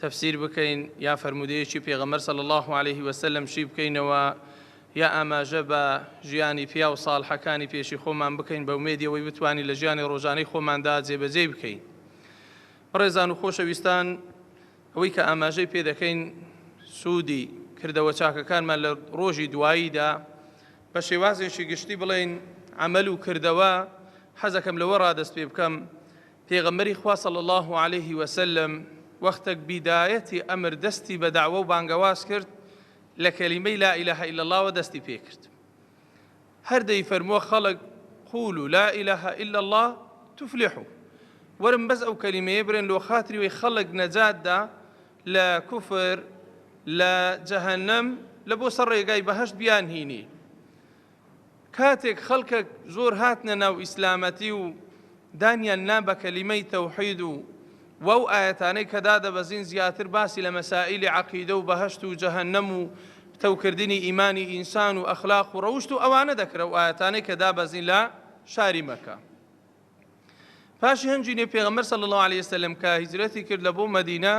تەفسیر بکەین یا فەرموودەیەکی پێغەمبەر صلی اللە علیه وسلم شی بکەینەوە یا ئاماژە بە ژیانی پیاو صالحەکانی پێشی خۆمان بکەین بە ئومێدی ئەوەی بتوانین لە ژیانی ڕۆژانەی خۆماندا جێبەجێی بکەین بەڕێزان و خۆشەویستان ئەوەی کە ئاماژەی پێ دەکەین سوودی کردەوە چاکەکانمان لە ڕۆژی دواییدا بە شێوازێکی گشتی بڵێین عمل و کردەوە حەزەکەم لەوە ڕادەست پێ بکەم پێغەمبەری خوا صلی اللە علیه وسلم وەختەک بیدایەتی ئەمر دەستی بە دەعوە و بانگەواز کرد لە کەلیمەی لا اله الا اللە وە دەستی پێکرد هەر دەیفەرمووە خەڵک قولوا لا اله الا اللە تفلحوا وەرن بەس ئەو کەلیمەیە برێن لۆ خاتری وەی خەڵک نەجاتدا لە کوفر لە جەهەنەم لە بۆ سەر ڕێگای بەهەشت بیان هینی کاتێک خەڵکەک زۆر هاتنە ناو ئیسلامەتی و دانیان نا بە کەلیمەی تەوحید و وەو ئایەتانەی کە دادەبەزین زیاتر باسی لە مەسائیلی عەقیدە و بەهەشت و جەهەنەم و پتەوکردنی ئیمانی ئینسان و ئەخلاق و ڕەوشت و ئەوانە دەکرا و ئایەتانەی کە دابەزین لە شاری مەککە پاشی هەنجینێ پێغەمبەر صلی الله علیه وسلم کە هیجرەتی کرد لە بۆ مەدینە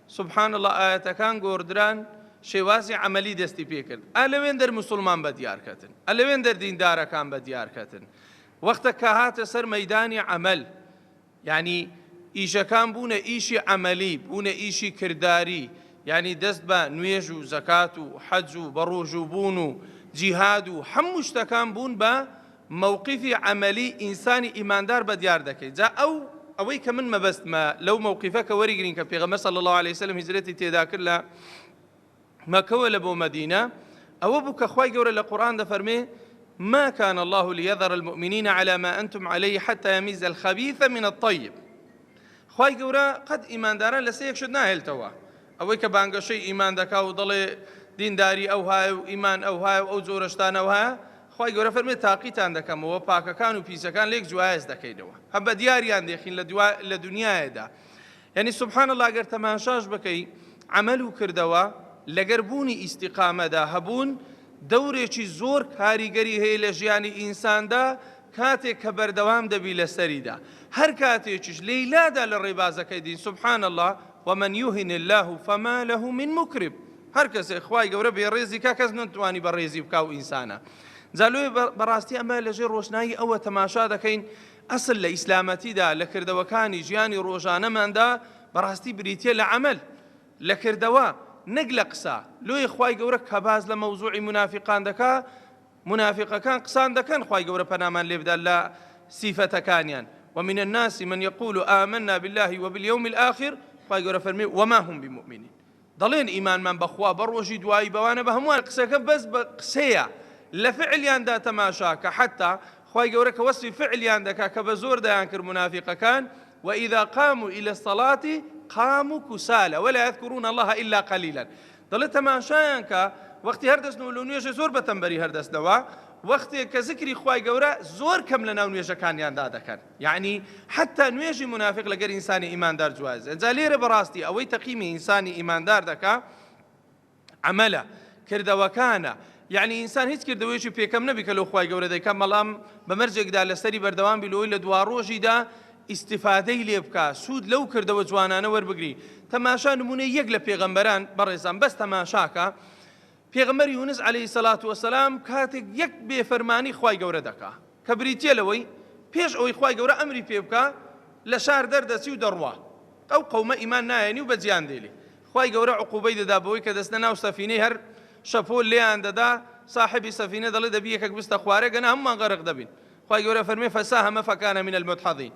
سبحان الله ئاەتەکان گۆڕدران شێوازی عملی دەستی پێکرد ئەلەوێن دەر مسلمان بە دیارکەتن ئەلەوێن دەر دیندارەکان بە دیارکەتن وەختە کە هاتە سەر مەدانی عمل ینی ئیشەکان بوونە ئیشی عملی بوونە ئیشی کردداری ینی دەست بە نوێژ و زەکات و حەج و بەڕۆژوو بوون و جیهاد و هەموو شتەکان بوون بە مەوقیفی عەمەلی ئینسانی ئیماندار بە دیار دەکەی جا ئەو ئەوەی کە من مەبەستمە لەو مەوقیفە کە وەریگرین کە پێغەمبەر صلی الله علیه وسلم هجرەتی تێدا کرد لە مەکەوە لە بۆ مەدینە ئەوە بوو کە خوای گەورە لە قورآن دەفەرمێ ما كان الله ليذر المؤمنين على ما أنتم عليه حتى يميز الخبيث من الطيب خوای گەورە قەت ئیمانداران لەسەر یەک شت ناهێلتەوە ئەوەی کە بانگەشەی ئیمان دەکا و دەڵێ دینداری ئەو هاە و ئیمان ئەو هاە و ئەو جۆرەشتانەوە هەیە خوای گەورە فەرموێ تاقیتان دەکەمەوە پاکەکان و پیسەکان لێک جوایەز دەکەینەوە هەم بە دیاریان دێخین لە دوا لە دنیایەدا یعنی سبحان اللە گەر تەماشاش بکەی عمل و کردەوە لەگەر بوونی ئیستیقامەدا هەبوون دەورێکی زۆر کاریگەری هەیە لە ژیانی ئینساندا کاتێک کە بەردەوام دەبی لەسەریدا هەر کاتێکیش لەیلادا لە ڕێبازەکەی دین سبحان الله ومن يهن الله فما له من مكرم هەر کەسێک خوای گەورە بێڕێزی کا کەس نەتوانی بە ڕێزی بکا و ئینسانە جا لۆیە بەڕاستی ئەمە لەژێر ڕۆشنایی ئەوە تەماشا دەکەین ئەسل لە ئیسلامەتیدا لە کردەوەکانی ژیانی ڕۆژانەماندا بەڕاستی بریتە لە عمل لە کردەوە نەک لە قسە لۆیە خی گەورە کە باز لە مەوزوعی منافقان دەکا منافقەکان قسان دەکەن خی گەورە پەنامان لێبدا لە سیفەتەکانیان ومن الناس من يقول آمنا بالله وباليوم الآخر خی گەورە فەرمی وما هم بمؤمنين دەڵێن ئیمانمان بەخوا بەڕۆژی دوایی بەوانە بەهەمووان قسەکە بەس بە قسەیە لە فعلیاندا تەماشاکە حەتا خوای گەورە کە وەسفی فعلیان دەکا کە بە زۆر دەیان کرد منافقەکان وإذا قاموا إلى الصلاة قاموا كسالى ولا يذكرون الله إلا قليلا دەڵێ تەماشایان کە وەختی هەردەستن و لە نوێژە زۆر بەتەمبەری هەردەستنەوە وەختێک کە زکری خوای گەورە زۆر کەم لە ناو نوێژەکانیاندا دەکەن یەعنی حەتا نوێژی مونافیق لەگەر ئینسانی ئیماندار جوایز ئەجا لێرە بەڕاستی ئەوەی تەقیمی ئینسانی ئیماندار دەکا عملە کردەوەکانە یعنی ئینسان هیچ کردەوەیشی پێکەم نەبی کە لەو خخوای گەورە دەکەم مەڵام بە مەرجێکدا لەسەری بەردەوام بیلۆی لە دوا ڕۆژیدا ئیسیفادەی لێ بکە سوود لەو کردەوە جوانانە وەربگری تەماشا نمونە یەک لە پێغەمبەران بەڕێزان بەس تەماشاکە پێغەمبەر یونس علیە سەلات وسلام کاتێک یەک بێ فەرمانی خوای گەورە دەکا کە بریتە لەوەی پێش ئەوەی خوای گەورە ئەمری پێ بکە لە شار دەردەچی و دەڕوا ئەو قەومە ئیمان نایەنی و بە جیان دێلی خوای گەورە عقوبەی دەدا بەوەی کە دەستە ناو سەفینەی هەر شەپۆل لێیان دەدا صاحبی سەفینە دەڵێ دەبی یەکەک بستە خوارە گەنە هەمومان غەرق دەبین خوای گەورە فەرمێ فەساهەمە فەکانە من المدحضین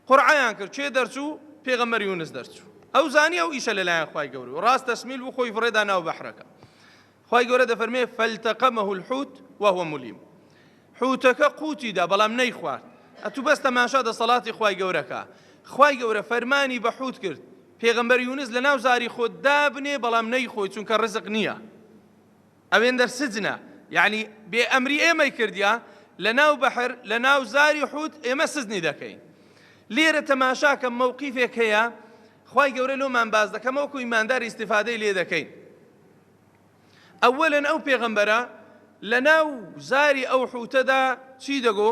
قورعەیان کرد کێ دەرچوو پێغەمبەر یونس دەرچوو ئەو زانی ئەو ئیشە لەلایەن خوای گەورە و ڕاست تەسمیل بوو خۆی فڕێدا ناو بەحرەکە خوای گەورە دەفەرمێ فەلتەقەمەه الحوت وهو ملیم حوتەکە قوتیدا بەڵام نەیخوارد ئەتو بەس تەماشا دەسەڵاتی خوای گەورەکە خوای گەورە فەرمانی بە حوت کرد پێغەمبەر یونس لە ناو زاری خۆت دابنێ بەڵام نەیخۆی چونکە ڕزق نییە ئەوێندەر سجنە یەعنی بێ ئەمری ئێمەی کردیە لە ناو بەحر لە ناو زاری حوت ئێمە سجنی دەکەین لێرە تەماشاکە مەوقیفێک هەیە خوای گەورە لۆمان باس دەکەم وەکو ئیماندار ئیسیفادەی لێ دەکەین ئەوەلەن ئەو پێغەمبەرە لە ناو زاری ئەو حوتەدا چی دەگۆ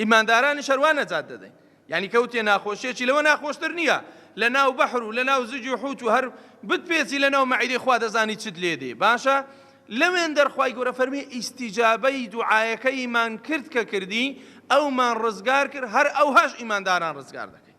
ئیماندارانیش هەروا نەجات دەدەین یعنی کەوتێ ناخۆشیەکی لەوە ناخۆشتر نییە لە ناو بەحر و لە ناو زجی و حوت و هەر بتپێچی لە ناو مەعیدەی خوا دەزانی چت لێ دێ باشە لەوێن دەرخوای گەورە فەرمی ئیسیجابەی دوعاەکەیمان کرد کە کردی ئەومان ڕزگار کرد هەر ئەوهاش ئیمانداران ڕزگار دەکەین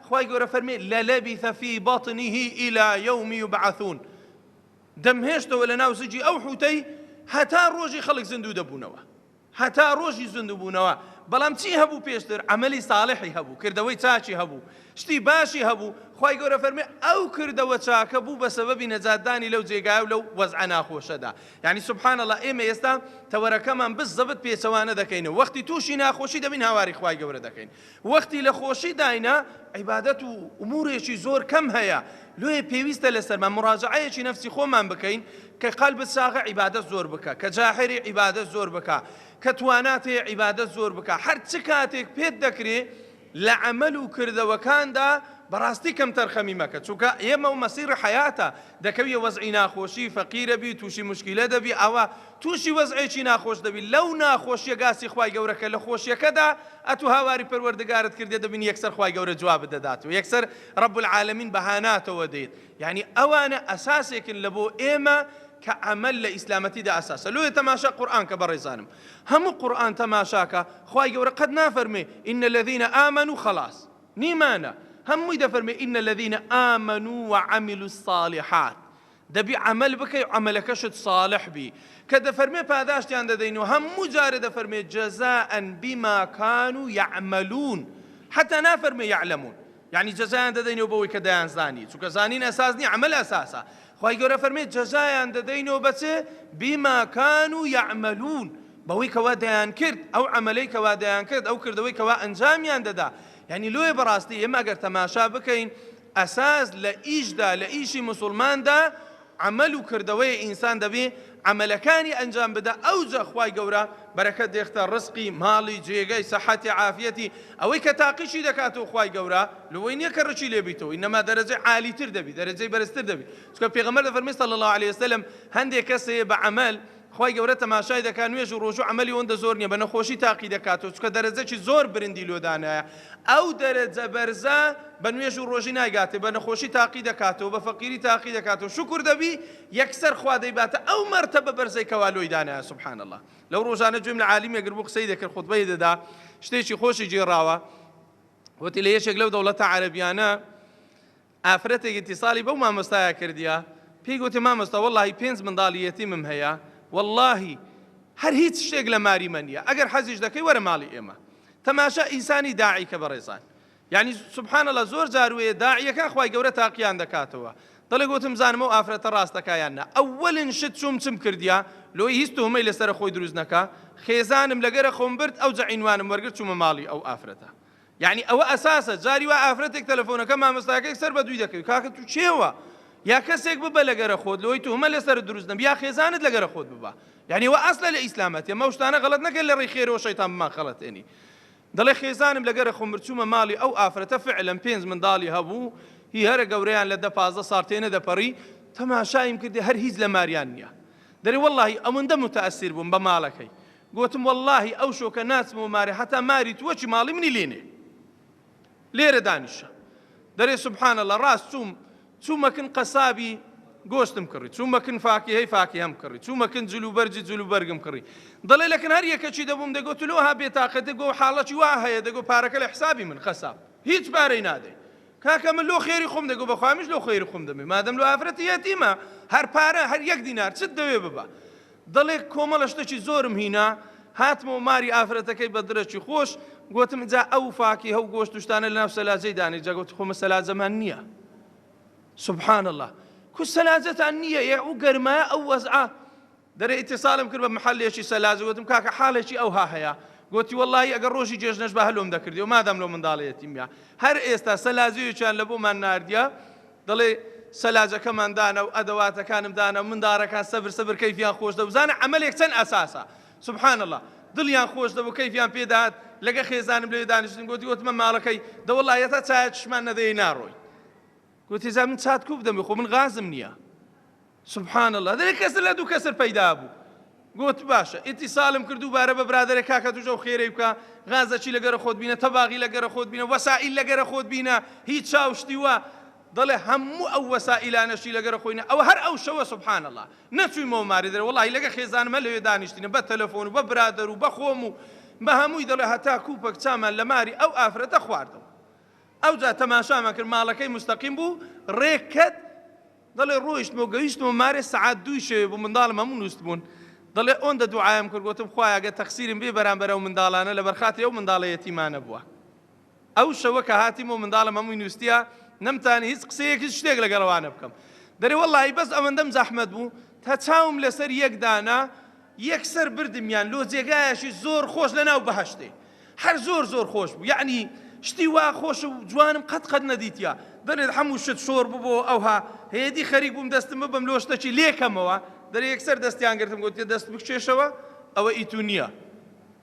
خوای گەورە فەرمی لەلەبیث فی بطنه الی یوم یبعثون دەمهێشتەوە لە ناو زجی ئەو حوتەی هەتا ڕۆژی خەڵک زیندوو دەبوونەوە هەتا ڕۆژی زیندوو بوونەوە بەڵام چی هەبوو پێشتر ئەمەلی ساڵحی هەبوو کردەوەی چاچی هەبوو شتی باشی هەبوو خی گەورە فەرمی ئەو کردەوە چاکە بوو بە سەبەبی نەجاتدانی لەو جێگای و لەو وەزع ناخۆشەدا یعنی سبحانەڵە ئێمە ئێستا تەوەرەکەمان بز زەبت پێچەوانە دەکەینەوە وەختی تووشی ناخۆشی دەبین هاواری خی گەورە دەکەین وەختی لە خۆشی داینە عیبادەت و ئومورێکی زۆر کەم هەیە لۆیە پێویستە لەسەرمان مراجعەیەکی نەفسی خۆمان بکەین کە قەلبت ساغە عیبادەت زۆر بکە کە جاحری عیبادەت زۆر بکە کە توانات هەیە عیبادەت زۆر بکە هەر چ کاتێک پێت دەکرێ لە عمل و کردەوەکاندا بەڕاستی کەم تەرخەمی مەکە چونکە ئێمە و مەسیڕ حیاتە دەکەویە وەزعی ناخۆشی فەقیرە بی تووشی مشکیلە دەبی ئەوە توشی وەزعێکی ناخۆش دەبی لەو ناخۆشیە گاسی خوای گەورە کە لەخۆشیەکەدا ئەتو هاواری پەروەردگارت کردیە دەبینی یەکسەر خوای گەورە جوابت دەداتەوە یەکسەر رب العالمین بەهاناتەوە دێیت یەعنی ئەوانە ئەساسێکن لەبۆ ئێمە کە عەمەل لە ئیسلامەتیدا ئەساسە لۆیە تەماشا قورئان کە بەڕێزانم هەموو قورئان تەماشاکە خوای گەورە قەت نافەرموێ ان الذین آمنوا خلاص نیمانە هەمووی دەفەرموێ ان الذین آمنوا وعملوا الصالحات دەبی عەمەل بکەی و عەمەلەکەشت صالح بی کە دەفەرمێ پاداشتیان دەدەین و هەموو جارێ دەفەرمێ جزاء بما کانوا یعملون حتی نافەرمێ یعلمون یعنی جزایان دەدەینەوە بەوەی کە دەیان زانی چونکە زانین ئەساس نیە عمل ئەساسە خی گەورە فەرمێ جزایان دەدەینەوە بەچ بما کانوا یعملون بەوەی کەوا دەیان کرد ئەو عملەی کەوا دەیان کرد ئەو کردەوەی کەوا ئەنجامیان دەدا یعنی لۆیە بەڕاستی ئێمە گەر تەماشا بکەین ئەساس لە ئیشدا، لە ئیشی موسوڵماندا عەمەل و کردەوەیە ئینسان دەبێ عەمەلەکانی ئەنجام بدا ئەوجە خوای گەورە بەرەکەت دێختە ڕزقی، ماڵی، جێگەی، سەحەتی، عافیەتی، ئەوەی کە تاقیشی دەکاتەوە خوای گەورە لەوەی نیە کە ڕکی لێبیتەوە انما دەرەجەی عالیتر دەبی دەرەجەی بەرزتر دەبی چونکە پێغەمبەر دەفەرمێ صلی اللە علیە وسلم هەندێ کەس هەیە بە عەمەل خوای گەورە تەماشای دەکات نوێژ و ڕۆژو عەمەلی ئەوەندە زۆر نیە بە نەخۆشی تاقی دەکاتەوە چونکە دەرەجەکی زۆر برندی لۆ دانایە ئەو دەرەجە بەرزە بە نوێژ و ڕۆژی نایگاتێ بە نەخۆشی تاقی دەکاتەوە بە فەقیری تاقی دەکاتەوە شکر دەبی یەکسەر خوا دەیباتە ئەو مەرتەبە بەرزەی کەوا لۆی دانایە سبحان الله لەو ڕۆژانە گوێم لە عالیمێک گربوو قسەی دەکرد خوتبەی دەدا شتێکی خۆشی گێڕاوە وتی لە یەکێک لەو دەوڵەتە عەرەبیانە ئافرەتێک ئیتیصالی بەو مامۆستایە کردیە پێی گۆتیە مامۆستا وەڵاهی پێنج منداڵی یەتیمم هەیە وەڵاهی هەر هیچ شتێک لە ماریمە نیە ئەگەر حەزیش دەکەی وەرە ماڵی ئێمە تەماشا ئینسانی داعی کە بەڕێزان یعنی سبحان اللە زۆر جار وەیە داعیەکان خوای گەورە تاقیان دەکاتەوە دەڵێ گۆتم زانم ئەو ئافرەتە ڕاست دەکا یان نا ئەوەلن شت چوم چم کردیە لۆی هیچ تۆمەی لەسەر خۆی دروست نەکا خێزانم لەگەرە خۆم برد ئەوجە عینوانم وەرگرت چومە ماڵی ئەو ئافرەتە یانی ئەوە ئەساسە جاری وا ئافرەتێک تەلەفۆنەکە مامۆستاکەێک سەر بە دووی دەکەوی کاکە تو چێوە یا کەسێک ببە لەگەرە خۆت لەوەی تومە لەسەر دروست نەبی یا خێزانت لەگەرە خۆت ببە یعنی وە ئەسلە لە ئیسلامەتە مە شتانە غەڵت نەکەن لە ڕێی خێرەوە شەیتان بمان خەڵەتێنی دەڵێ خێزانم لەگەرە خۆم مرچوومە ماڵی ئەو ئافرەتە فعلم پێنج منداڵی هەبوو هی هەرە گەورەیان لە دە پازدە ساڵ تێ نەدەپەڕی تەماشایم کردی هەر هیچ لە ماریان نییە دەری واللهی ئەوەندە متەئسیر بووم بە ماڵەکەی گۆتم وەڵاهی ئەو شۆکە ناچمەوە مارێ هەتا ماری تووە چی ماڵی منی لێ نێ لێرە دانیشە دەرێ سبحان الله ڕاست چووم چوومەکن قەسابی گۆشتم کڕی چوومەکن فاکیهەی فاکیهەم کڕی چوومەکن جلوبەرجی جلوبەرگم کڕی دەڵێ لەکن هەر یەکەچی دەبووم دەگۆت لۆها بێتاقە دەگۆ حاڵەتی وا هەیە دەگۆ پارەکە لە حسابی من قەساب هیچ پارەی نادەی کاکە من لۆ خێری خۆم دەگۆ بەخوامیش لۆ خێری خۆم دەمێ مادەم لۆ ئافرەتی یەتیمە هەر پارە هەر یەک دینار چت دەوێ ببە دەڵێ کۆمەڵە شتەکی زۆرم هینا، هاتمەوە ماری ئافرەتەکەی بە دڕێکی خۆش، گۆتم جا ئەو فاکیهە و گۆشت و شتانە لەناو سەلاجەی دانێ، جا گۆت خۆ مە سەلاجەمان نییە. سبحان اللە. کو سەلاجەتان نییە ئێ ئەو گەرمایە ئەو وەزعە. دەرێ ئیتیسالم کرد بە محەلێکی سەلاجە، گۆتم کاکە حاڵێکی ئەوها هەیە، گۆتی وەڵڵاهی ئەگەر ڕۆژی جێژنەش با هەلۆم دەکردیەوە مادام لەو منداڵەیەتیم یا. هەر ئێستا سەلاجەیەکیان لەبۆمان ناردیە، دەڵێ سەلاجەکەمان دانا و ئەدەواتەکانم دانا و منداڕەکان سەبر سەبر کەیفیان خۆش دەبو بزانە عەمەلێک چەن ئەساسە سبحان اللە دڵیان خۆش دەبو کەیفیان پێ دەهات لەگە خێزانم لەوێ دانیشتین گۆتی وتمە ماڵەکەی دەوەڵا یەتا چایە چشمان نەدەیەی ناڕۆی گۆتی جا من چات کوو بدەمێ خۆ من غازم نیە سبحان اللە دەێ کەسر لە دوو کەسر پەیدا بوو گوت باشە ئیتیسالم کرد و بارە بە برادرە کاکە توش ئەو خێرەی بکە غازەچی لەگەرە خۆت بینە تەباغی لەگەرە خۆت بینە وەسائیل لەگەرە خۆت بینە هیچ چاوشتی وە دەڵێ هەموو ئەو وەسائیلانەشی لەگەرە خۆینە ئەو هەر ئەو شەوە سبحان الله نەچوویمەوە ماری دەرە وڵی لەگە خێزانمە لەوێ دانیشتینە بە تەلەفۆن و بە برادەر و بەخۆم و بە هەمووی دەڵێ هەتا کوپەک چامان لە ماری ئەو ئافرەتە خواردەوە ئەوجا تەماشامان کرد ماڵەکەی مستەقیم بوو ڕێکەت دەڵێ ڕۆیشتم و گەیشتمە مارێ سەعات دووی شەوێ بوو منداڵم هەموو نوستبوون دەڵێ ئۆندە دوعایم کرد گۆتم خوایە گەر تەقسیرم بێ بەرامبەر ئەو منداڵانە لەبەر خاتری ئەو منداڵە یەتیمانە بووە ئەو شەوە کە هاتیم و منداڵم هەمووی نوستیە نەمتانی هیچ قسەیەک هیچ شتێک لەگەڵ ئەوانە بکەم دەرێ وەڵاهی بەس ئەوەندەم زەحمەت بوو تا چاوم لەسەر یەک دانا یەکسەر بردمیان لۆ جێگایەکی زۆر خۆش لەناو بەهەشتێ هەر زۆر زۆر خۆش بوو یەعنی شتی وا خۆش و جوانم قەت قەت نەدیتیا دەلێت هەموو شت شۆر ببۆ ئەوها هەیەدی خەریک بووم دەستم ببم لۆ شتەکی لێکەمەوە دەلێ یەکسەر دەستیان گرتم گوتیە دەست بکشێشەوە ئەوە ئیتو نییە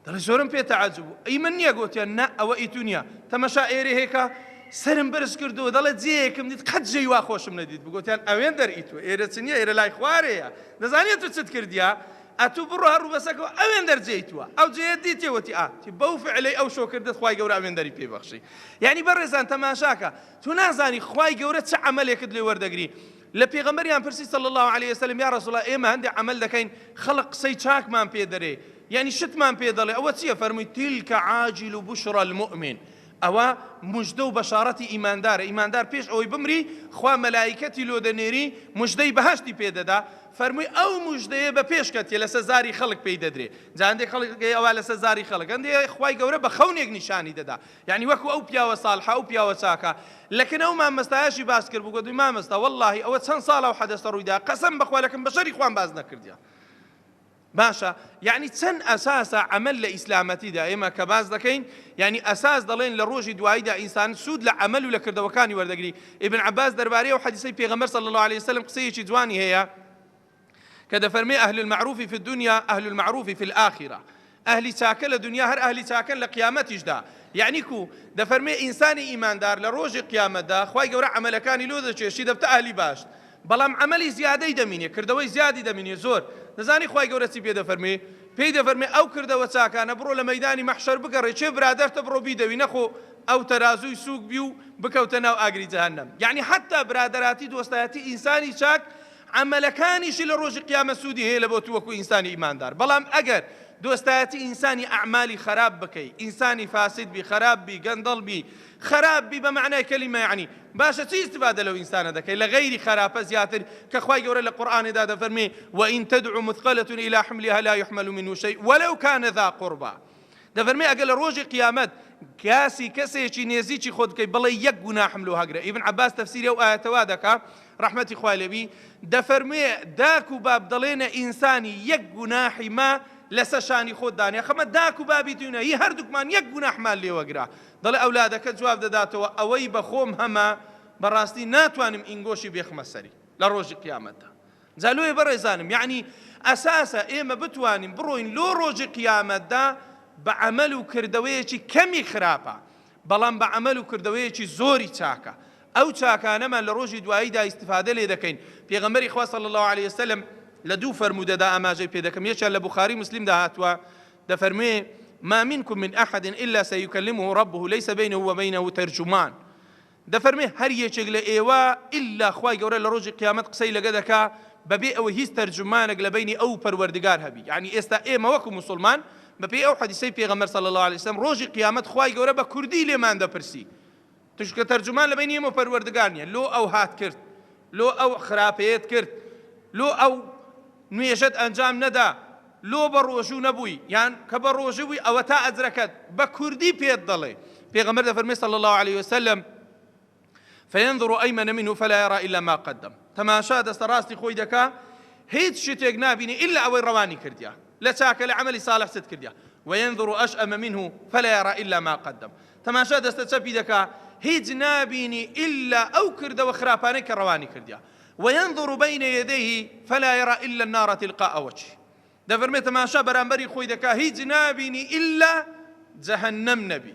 دەڵێ زۆرم پێ تەعجب بوو ئەی من نییە گوتیان نا ئەوە ئیتو نییە تەمەشا ئێرێ هێکا سرم برز کردو دەڵێت جێیەکم دیت قەت جێی وا خۆشم نەدیت بگوتیان ئەوێن دەرئیتو ئێرە چ نییە ئێرە لای خوارەیە دەزانێت تو چت کردیا ئەتوو بڕۆ هەر ڕووبەسەکەوە ئەوێندەر جێی تووە ئەو جێیەت دیتێ وەتی ئا تی بەو فعلەی ئەو شۆ کردت خوای گەورە ئەوێندەری پێی بەخشی یانی بەڕێزان تەماشاکە تو نازانی خوای گەورە چ عەمەلێکت لێ وەردەگری لە پێغەمبەریان پرسی صلی الله علیه وسلم یا رسول الله ئێمە هەندێک عەمەل دەکەین خەڵق قسەی چاکمان پێ دەرێ یعنی شتمان پێ دەڵێ ئەوە چییە فەرمووی تلک عاجل بشرى المؤمن ئەوە مژدە و بەشاڕەتی ئیماندارە، ئیماندار پێش ئەوەی بمری خوا مەلائیکەتی لۆ دەنێری مژدەی بەهەشتی پێ دەدا، فەرمووی ئەو مژدەیە بە پێش کەتیە لەسەر زاری خەڵک پێی دەدرێ، جا هەندێک خەڵک ئەڵێ ئەوە لەسەر زاری خەڵک، هەندێک ئەڵێ خوای گەورە بە خەونێک نیشانی دەدا، یەعنی وەکو ئەو پیاوە ساڵحە ئەو پیاوە چاکە، لەکن ئەو مامەستایەشی باس کرد بوو گۆتی مامەستا وەڵاهی ئەوە چەند ساڵە ئەو حەدەسە ڕووی دا قەسەم بەخوا لەکن بەشەری خوام باس نەکردیە. باشە یعنی چەند ئەساسە عمل لە ئیسلامەتیدا ئێمە کە باس دەکەین یعنی ئەساس دەڵێن لە ڕۆژی دواییدا ئینسان سوود لە عمل و لە کردەوەکانی وەردەگری ئیبن عباس دەربارەی و حەدیسەی پێغەمبەر صلی الله عليه وسلم قسەیەکی جوانی هەیە کە دەفەرمێ ئەهل المعروف فی الدنیا ئەهل المعروف فی الآخرە ئەهلی چاکە لە دنیا هەر ئەهلی چاکەن لە قیامەتیشدا یعنی کو دەفەرمێ ئینسانی ئیماندار لە ڕۆژی قیامەتدا خی گەورە عملەکانی لۆ دەچێشی دەبتە ئەهلی باش بەڵام عەمەلی زیادەی دەمینێ، کردەوەی زیادی دەمینێ، زۆر. دەزانی خوای گەورە چی پێ دەفەرموێ؟ پێی دەفەرموێ، ئەو کردەوە چاکانە بڕۆ لە مەیدانی مەحشەر بگەڕێ، کێ برادەرتە بڕۆ بیدەوی، نەخۆ ئەو تەرازووی سووک بی و بکەوتە ناو ئاگری جەهەنەم. یەعنی حەتتا برادەراتی دۆستایەتی ئینسانی چاک، عەمەلەکانیشی لە ڕۆژی قیامەت سوودی هەیە لە بۆ تو وەکو ئینسانی ئیماندار. بەڵام ئەگەر دۆستایەتی ئینسانی ئەعمالی خەراپ بکەی، ئینسانی فاسد بی، خەراپ بی، گەندەڵ بی، خەراپ بی بە مەعنای کەلیمە یەعنی باشە چی ئیستیفادە لەو ئینسانە دەکەی لە غەیری خەراپە زیاتر کە خوای گەورە لە قورئانێدا دەفەرمێ وئین تدعو مثقلە الی حملها لا یحمل منه شیء ولو کان ذا قربا دەفەرمێ ئەگەر لە ڕۆژی قیامەت کاسی کەسێکی نێزیکی خۆت بکەی بڵێ یەک گوناحم لۆ هەگرە ئیبن عباس تەفسیری ئەو ئاەتەوا دەکا ڕحمەتی خوای لێبی دەفەرموێ داک و باب دەڵێنە ئینسانی یەک گوناحی ما لەسەر شانی خۆت دانێ خەمە داک و بابی دوینە هی هەردووکمان یەک گوناحمان لێوەگرا دەڵێ ئەولادەکە جواب دەداتەوە، ئەوەی بە خۆم هەمە، بە ڕاستی ناتوانم ئینگۆشی بێخمە سەری لە ڕۆژی قیامەتدا. جا لۆیە بەڕێزانم، یەعنی ئەساسە ئێمە بتوانین بڕۆین لۆ ڕۆژی قیامەتدا بە عەمەل و کردەوەیەکی کەمی خراپە، بەڵام بە عەمەل و کردەوەیەکی زۆری چاکە. ئەو چاکانەمان لە ڕۆژی دواییدا ئیستیفادە لێ دەکەین. پێغەمبەری خوا صلی اللە علیە وسلم لە دوو فەرموودەدا ئاماژەی پێ دەکەم، یەکیان لە بوخاری و موسلیمدا هاتووە، دەفەرموێ، ما منکم من احد الا سیکلمه ربه لیس بینه و بینه ترجمان، دەفەرموێ هەر یەکێک لە ئێوە ئیلا خوای گەورە لە ڕۆژی قیامەت قسەی لەگە دەکا بەبێ ئەوەی هیچ تەرجومانەک لە بەینی ئەو و پەروەردگار هەبی، یەعنی ئێستا ئێمە وەکو موسڵمان بەپێی ئەو حەدیسەی پێغەمبەر صلی اللە علیە وسلم ڕۆژی قیامەت خوای گەورە بە کوردی لێمان دەپرسی چونکە تەرجومان لەبەینی ئێمە و پەروەردگار نییە، لۆ ئەو هات کرد، لۆ ئەو خراپەیەت کرد، لۆ ئەو نوێژەت ئەنجام نەدا، لۆ بە ڕۆژوو نەبووی، یان کە بە ڕۆژوو بووی ئەوەتا ئەجرەکەت بە کوردی پێت دەڵێ، پێغەمبەر دەفەرموێ صلی اللە علیە وسلم، فینظر ایمن منه فلا یری الا ما قدم، تەماشا دەستە ڕاستی خۆی دەکا هیچ شتێک نابینێ الا ئەوەی ڕەوانی کردیە، لە چاکە لە عەمەلی ساڵح چت کردیە وینظر اشام منه فلا یرا الا ما قدم تەماشا دەستە چەپی دەکا هیچ نابینی الا ئەو کردەوە خراپانەی کە ڕەوانی کردیە وینظر بین یدیه فلا یرا الا النار تلقاء وجه دەفەرمێ تەماشا بەرامبەری خۆی دەکا هیچ نابینی الا جەهەنەم نەبی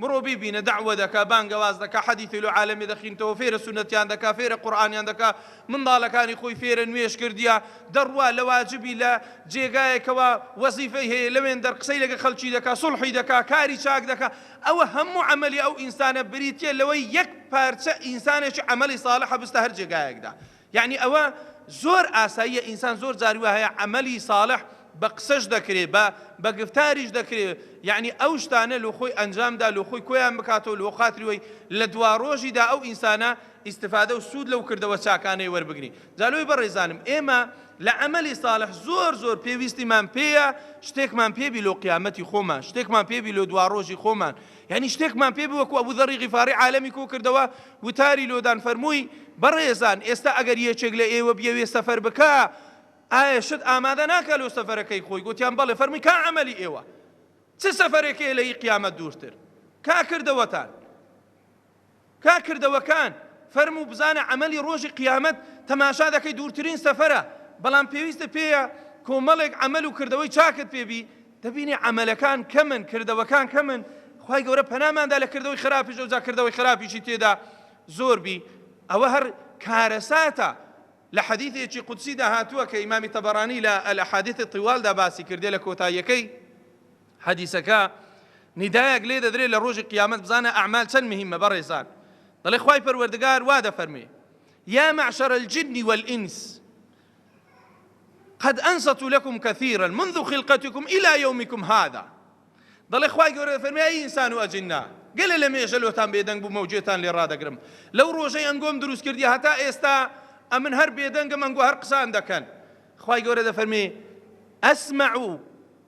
بڕۆ بیبینە دەعوە دەکا بانگەواز دەکا حەدیثی لۆ عالەمی دەخینتەوە فێرە سونەتیان دەکا فێرە قورئانیان دەکا منداڵەکانی خۆی فێرە نوێژ کردیە دەڕوا لە واجبی لە جێگایەکەوە وەزیفەی هەیە لەوێن دەر قسەی لەگە خەڵکی دەکا سوڵحی دەکا کاری چاک دەکا ئەوە هەموو عەمەلی ئەو ئینسانە بریتیە لەوەی یەک پارچە ئینسانێکی عەمەلی ساڵحە بستە هەر جێگایەکدا یەعنی ئەوە زۆر ئاساییە ئینسان زۆر جار وا هەیە عەمەلی ساڵح بە قسەش دەکرێ بە بە گفتاریش دەکرێ یەعنی ئەو شتانە لۆ خۆی ئەنجامدا لۆ خۆی کۆیان بکاتەوە لۆ خاتری وەی لە دوا ڕۆژیدا ئەو ئینسانە ئیستفادە و سوود لەو کردەوە چاکانەی وەربگری جا لۆی بەڕێزانم ئێمە لە عەمەلی ساڵح زۆر زۆر پێویستیمان پێیە شتێکمان پێبی لۆ قیامەتی خۆمان شتێکمان پێبی لۆ دوا ڕۆژی خۆمان یانی شتێکمان پێ بوە کو ئەبو ذەڕی غیفاڕی عالەمی کۆ کردەوە وتاری لۆدان فەرمووی بەڕێزان ئێستا ئەگەر یەکێک لە ئێوە بیەوێ سەفەر بکا ئایا شت ئامادە ناکا لۆ سەفەرەکەی خۆی گوتیان بەڵێ فەرمووی کا عەمەلی ئێوە چ سەفەرێکەیە لە ئی قیامەت دوورتر کا کردەوەتان کاک کردەوەکان فەرموو بزانە عەمەلی ڕۆژی قیامەت تەماشا دەکەی دوورترین سەفەرە بەڵام پێویستە پێیە کۆمەڵێک عەمەل و کردەوەی چاکت پێ بی دەبینی عەمەلەکان کەمن کردەوەکان کەمن خی گەورە پەناماندا لە کردەوەی خراپیش ئەوجا کردەوەی خراپیشی تێدا زۆر بی ئەوە هەر کارەساتە لە حەدیثێکی قودسیدا هاتووە کە ئیمامی تەبەرانی لە ئەلحادیث طوالدا باسی کردێ لە کۆتاییەکەی حەدیسەکە نیدایەک لێ دەدرێت لە ڕۆژی قیامەت بزانە ئەعمال چەند مهمە بەڕێزان دەڵێ خوای پەروەردگار وا دەفەرمێ یا معشر الجن والانس قد انصت لكم كثيرا منذ خلقتكم الى يومكم هذا دەڵێ خوای گەورە دەفەرمێ ئەی ئینسان و ئەجننا گەلە لە مێژە لۆتان بێدەنگ بوو مەوجێتان لێ ڕادەگرم لەو ڕۆژەی ئەنگۆم دروست کردی هەتا ئێستا ئەمن هەر بێدەنگم ئەنگۆ هەر قسان دەکەن خوای گەورە دەفەرمێ ئەسمع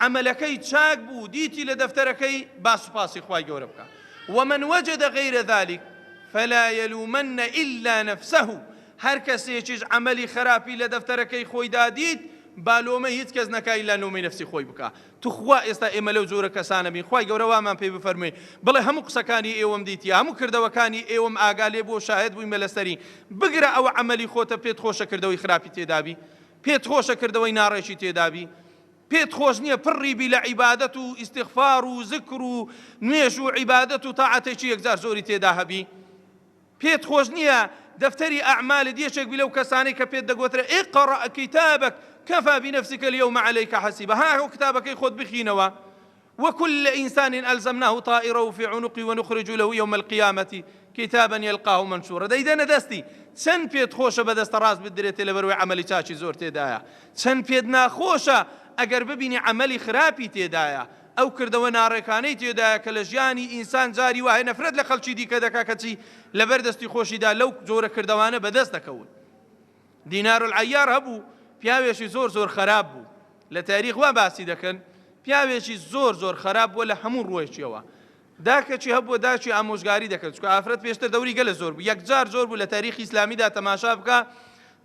عەمەلەکەی چاک بوو دیتی لە دەفتەرەکەی با سوپاسی خوای گەورە بکا ومن وجد غیر ذلک فلا یلومن الا نفسه هەر کەسێکیش عەمەلی خەراپی لە دەفتەرەکەی خۆیدا دیت با لۆمەی هیچ کەس نەکا ئیلا لۆمەی نەفسی خۆی بکا توخوا ئێستا ئێمە لەو جۆرە کەسانە بین خوای گەورە وامان پێ بفەرموێ بڵێ هەموو قسەکانی ئێوەم دیتی هەموو کردەوەکانی ئێوەم ئاگا لێ بوو شاهد بوویمە لەسەری بگرە ئەوە عەمەلی خۆتە پێت خۆشە کردەوەی خراپی تێدابی پێت خۆشە کردەوەی ناڕێکی تێدابی پێت خۆش نیە پڕی بی لە عیبادەت و ئیستیغفار و زکر و نوێژ و عیبادەت و تاعەتێکی یەکجار زۆری تێدا هەبی پێت خۆش نیە دەفتەری ئەعمالت یەکێک بی لەو کەسانەی کە پێت دەگوترێ اقرأ کتابک کفا بنفسک اليوم عليک حسیبا ها هۆ کتابەکەی خۆت بخینەوە وکل انسان الزمناه طائره فی عنقی ونخرج له یوم القیامە کتابا یلقاه منشورا دەیدەنە دەستی چەن پێت خۆشە بە دەستە ڕاست بدرێتێ لەبەروەی عەمەلی چاکی زۆر تێدایە چەن پێت ناخۆشە ئەگەر ببینی عەمەلی خراپی تێدایە ئەو کردەوە ناڕێکانەی تێدایە کە لە ژیانی ئینسان جاری وایە نەفرەت لە خەڵکی دیکە دەکا کەچی لەبەر دەستی خۆشیدا لەو جۆرە کردەوانە بەدەست دەکەون دینارالعیار هەبوو پیاوێکی زۆر زۆر خەراپ بوو لە تاریخ وا باسی دەکەن پیاوێکی زۆر زۆر خەراپ بووە لە هەموو ڕوەیەکیەوە داکەچی هەبووە داچی ئامۆژگاری دەکرد چکە ئافرەت پێشتر دەوری گەلە زۆر بوو یەکجار زۆر بوو لە تاریخی ئسلامیدا تەماشا بکە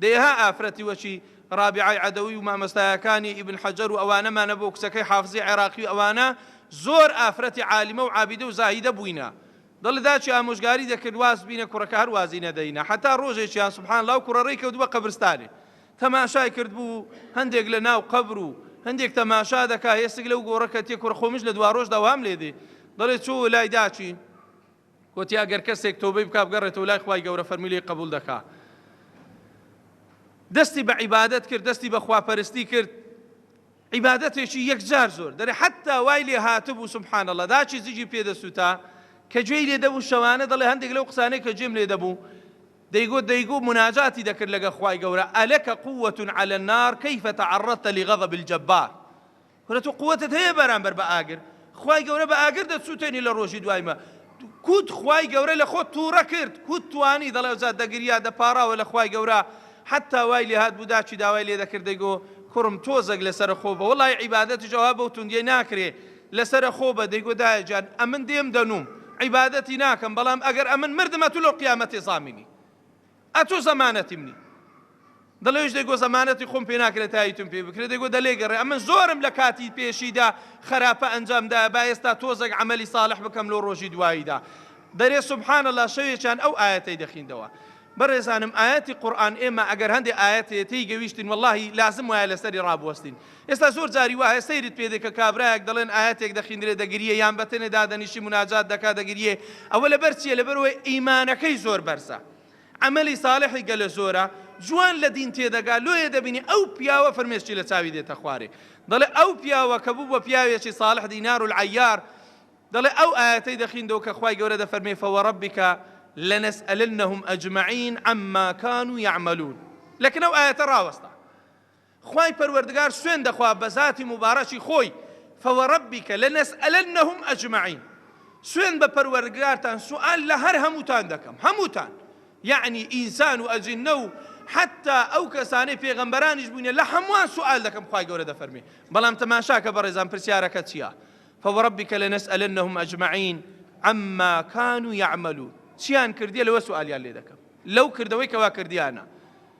دەیها ئافرەتی وەچی ڕابعی عدەوی و مامەستایەکانی ئیبن حەجەر و ئەوانەمانە بۆ کچەکەی حافزی عێراقی ئەوانە زۆر ئافرەتی عالیمە و عابدە و زاهیدە بووینە دەڵێ داچی ئامۆژگاری دەکرد واز بینە کوڕەکە هەر وازی نەدەینە حەتا ڕۆژێکیان سبحان اللە و کوڕە ڕێی کەوت بە قەبرستانێ تەماشای کرد بوو هەندێک لە ناو قەبر و هەندێک تەماشا دەکا هێسک لەو گۆڕە کە تێ کوڕە خۆمش لە دوا ڕۆژدا وام لێ دێ دەڵێ چۆ لای داچی وتی ئەگەر کەسێک تۆبەی بک بگەڕێتەوە لای خخوای گەورە فەرمیلی قبول دەکا دەستی بە عیبادت کرد دەستی بە خواپەرستی کرد عیبادەتێکی یەکجار زۆر دەرێ حەتتا وای لێ هاتبوو سبحان اللە داچی زگی پێ دەسووتا کە گوێی لێ دەبوو شەوانە دەڵێ هەندێک لەو قسانەی کە گوێم لێ دەبوو دەیگوت دەیگوت مناجاتی دەکرد لەگە خوای گەورە ئەلەکە قووەت عەلە النار کەیف تعرضت لغضب الجبار کورە تۆ قوتت هەیە بەرامبەر بە ئاگر خوای گەورە بە ئاگر دەتسوتێنی لە ڕۆژی دوایمە کوت خوای گەورە لە خۆت توڕە کرد کوت توانی دەڵێ ئەوجا دەگریا دەپاڕاوە لە خوای گەورە حتا وای لێ هات بوو داچی داوای لێ دەکرد دەیگۆ کوڕم تۆزەک لەسەر خۆ بە وڵی عیبادەتیش ئەوها بەو توندیە ناکرێ لەسەر خۆ بە دەیگۆ دایە جان ئەمن دێم دەنووم عیبادەتی ناکەم بەڵام ئەگەر ئەمن مردمە تو لەو قیامەتێ زامینی ئەتۆ زەمانەتی منی دەڵێش دەگۆ زەمانەتی خۆم پێ ناکرێت تایتون پێ بکرێت دەگۆ دەلێگەڕێ ئەمە زۆرم لە کاتی پێشیدا خراپە ئەنجامدا با ئێستا تۆزەک عملی ساڵح بکەم لۆ ڕۆژی دواییدا دەرێ سبحان الله شەوێکیان ئەو ئاەتەی دەخیندەوە بەڕێزانم ئاەتی قورآن ئێمە ئەگەر هەندێک ئاەتێتی گەویشتین واللهی لازم وایە لەسەری ڕابوەستین ئێستا زۆر جاری وایە سەیرت پێ دێ کە کابرایەک دەڵێن ئایەتێک دەخیندرێ دەگریێ یان بەتەنێ دادەنیشی مناجات دەکا دەگریێ ئەوە لەبەر چییە لەبەرەوەی ئیمانەکەی زۆر بەرزە عملی ساڵحی گەلە زۆرە جوان لە دین تێدەگا لۆیە دەبینی ئەو پیاوە فرمێشتی لە چاوی دێتە خوارێ دەڵێ ئەو پیاوە کە بوو بە پیاوێکی ساڵح دینار و عیار دەڵێ ئەو ئاەتەی دەخیندەوە کە خی گەورە دەفەرمێ فەوە ڕبیکە لە نەسئلنهم ئەجمعین ئەمماکان و یعملون لەکنەو ئاەتە ڕاوەستا خوای پەروەردگار سوێن دەخوا بە زاتی موبارەکی خۆی، فوربک لنسئلنهم اجمعین، سوێن بە پەروەردگارتان سوئال لە هەر هەمووتان دەکەم، هەمووتان، یەعنی ئینسان و ئەجنە و حەتا ئەو کەسانەی پێغەمبەرانیش بووینە لە هەمووان سوئال دەکەم، خوای گەورە دەفەرموێ، بەڵام تەماشاکە بەڕێزان پرسیارەکە چیە، فوربک لنسئلنهم اجمعین عما کانوا یعملون، چیان کردیە لەوە سوئالیان لێ دەکەم، لەو کردەوەی کەوا کردیانە.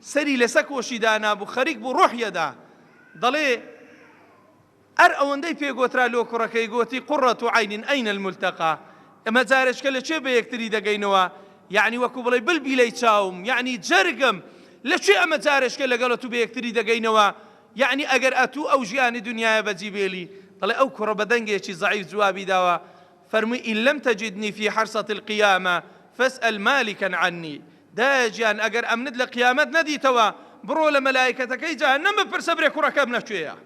سەری لەسە کۆشی دانابوو خەریک بوو ڕۆحی ئەدا دەڵێ ئەر ئەوەندەی پێ گۆترا لۆ کوڕەکەی گۆتی قرە عین ئین الملتقا ئەمە جارێچکە لە کوێ بەیەکتری دەگەینەوە یەعنی وەکو بڵێی بلبیلەی چاوم یەعنی جەرگم لە کوێ ئەمە جارێچکە لەگەڵ ئەتوو بەیەکتری دەگەینەوە یەعنی ئەگەر ئەتوو ئەو ژیانی دنیایە بەجی بێلی دەڵێ ئەو کوڕە بە دەنگێکی زەعیف جوابی داوە فەرمووی ان لم تجدنی فی حرصە القیامە فاسئل مالکا عنی، دایە گیان ئەگەر ئەمنت لە قیامەت نەدیتەوە بڕۆ لە مەلایکەتەکەی جەهەنەم بپرسە برێ کوڕەکەم لە کوێیە؟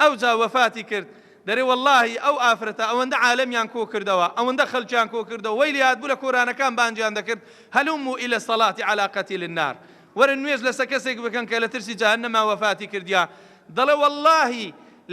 ئەوجا وەفاتی کرد، دەرێ وەڵاهی ئەو ئافرەتە ئەوەندە عالەمیان کۆ کردەوە ئەوەندە خەلکیان کۆ کردەوە وەی لێهاتبوو لە کۆرانەکان بانگیان دەکرد هلموا الی الصلاة علی قتیل النار وەرن نوێژ لەسە کەسێک بکەن کە لەترسی جەهەنەما وەفاتی کردیە دەڵێ وەڵاهی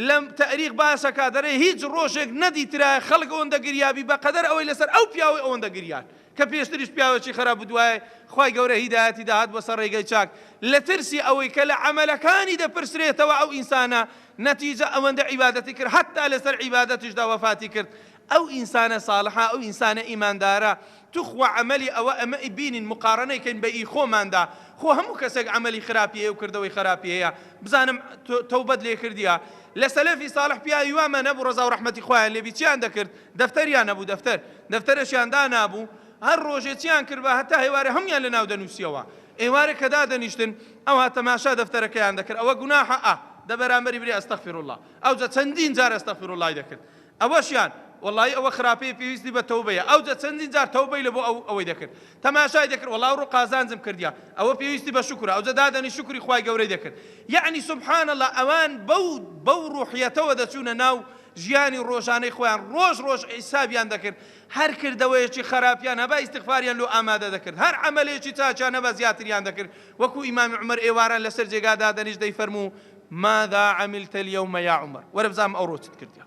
لە تەئریخ باسەکا دەرێ هیچ ڕۆژێک نەدیترایە خەڵک ئەوەندە گریابی بەقەدەر ئەوەی لەسەر ئەو پیاوەی ئەوەندە گریان کە پێشتریش پیاوەکی خەراب و دوایێ خوای گەورە هیدایەتی داهات بۆ سەر ڕێگەی چاک لەترسی ئەوەی کە لە عەمەلەکانی دەپرسرێتەوە ئەو ئینسانە نەتیجە ئەوەندە عیبادەتی کرد حەتا لەسەر عیبادەتیشدا وەفاتی کرد ئەو ئینسانە ساڵحە ئەو ئینسانە ئیماندارە توخوا عەمەلی ئەوە ئەمە ی بینین مقاڕنەی کەین بە ی خۆماندا خۆ هەموو کەسێک عەمەلی خراپی هەیەو کردەوەی خەراپی هەیە بزانم تەوبەت لێ کردیە لە سەلەفی ساڵح پیاوی وا مە نەبوو ڕەزاو ڕەحمەتی خوایان لێبی چیان دەکرد دەفتەریان نەبوو دەفتەر دەفتەرەشیان دانابوو هەر ڕۆژێ چیان کردبا هەتا هەیوارێ هەمویان لە ناو دەنوسیەوە ئێوارێ کە دادەنیشتن ئەوها تەماشا دەفتەرەکەیان دەکرد ئەوە گوناحە ئە دە بەرامبەری بری استغفراللە ئەوجە چەندین جار استغفراللە ی دەکرد ئەوەشیان، وەڵایی ئەوە خراپەیە پێویستی بە تەوبەیە، ئەوجە چەندین جار تەوبەی لەبۆ ئەو ئەوەی دەکرد تەماشای دەکرد، وەڵا ئەوڕۆ قازانجم کردیە، ئەوە پێویستی بە شوکرە، ئەوجە دادەنیشت شوکری خوای گەورەی دەکرد، یەعنی سبحان اللە ئەوان بەو بەو ڕوحیەتەوە دەچوونە ناو ژیانی ڕۆژانەی خۆیان، ڕۆژ ڕۆژ حیسابیان دەکرد، هەر کردەوەیەکی خەراپیان هەبا ئیستغفاریان لۆ ئامادە دەکرد، هەر عەمەلێکی چاکیان هەبا زیاتریان دەکرد، وەکو ئیمامی عومەر ئێواران لەسەر جێگا دادەنیشت دەیفەرموو، ماذا عملت اليوم یا عمر، وەرە بزانم ئەوڕۆ چت کردیە،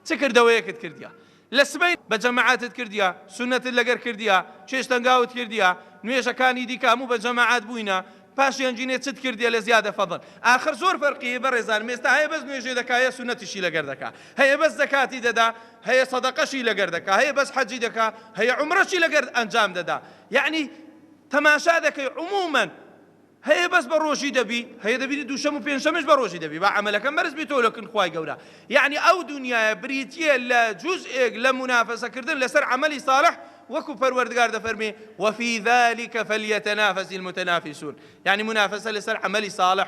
چ کردەوەیەکت کردیە، لە سبەین بە جەماعەتت کردیە، سوننەتت لەگەر کردیە، چێشت تەنگاوت کردیە، نوێژەکانی دیکە هەموو بە جەماعەت بووینە، پاشیان جینێ چت کردیە لە زیادە فەزڵ، ئاخر زۆر فەرقی هەیە بەڕێزانم، ئێستا هەیە بەس نوێژێ دەکا هەیە سوننەتیشی لەگەر دەکا، هەیە بەس زەکاتی دەدا هەیە سەدەقەشی لەگەر دەکا، هەیە بەس حەجی دەکا هەیە عومرەشی لەگەر ئەنجام دەدا، یەعنی تەماشا دەکەی عمومەن. هەیە بەس بە ڕۆژی دەبی هەیە دەبی دووشەم و پێنجشەمش بە ڕۆژی دەبی با عەمەلەکەم بەرز بیتەوە لە کن خوای گەورە یەعنی ئەو دونیایە بریتیە لە جوزئێک لە مونافەسە کردن لەسەر عەمەلی ساڵح وەکو پەروەردگار دەفەرمێ وفی ذلک فلیتنافس المتنافسون یەعنی مونافەسە لەسەر عەمەلی ساڵح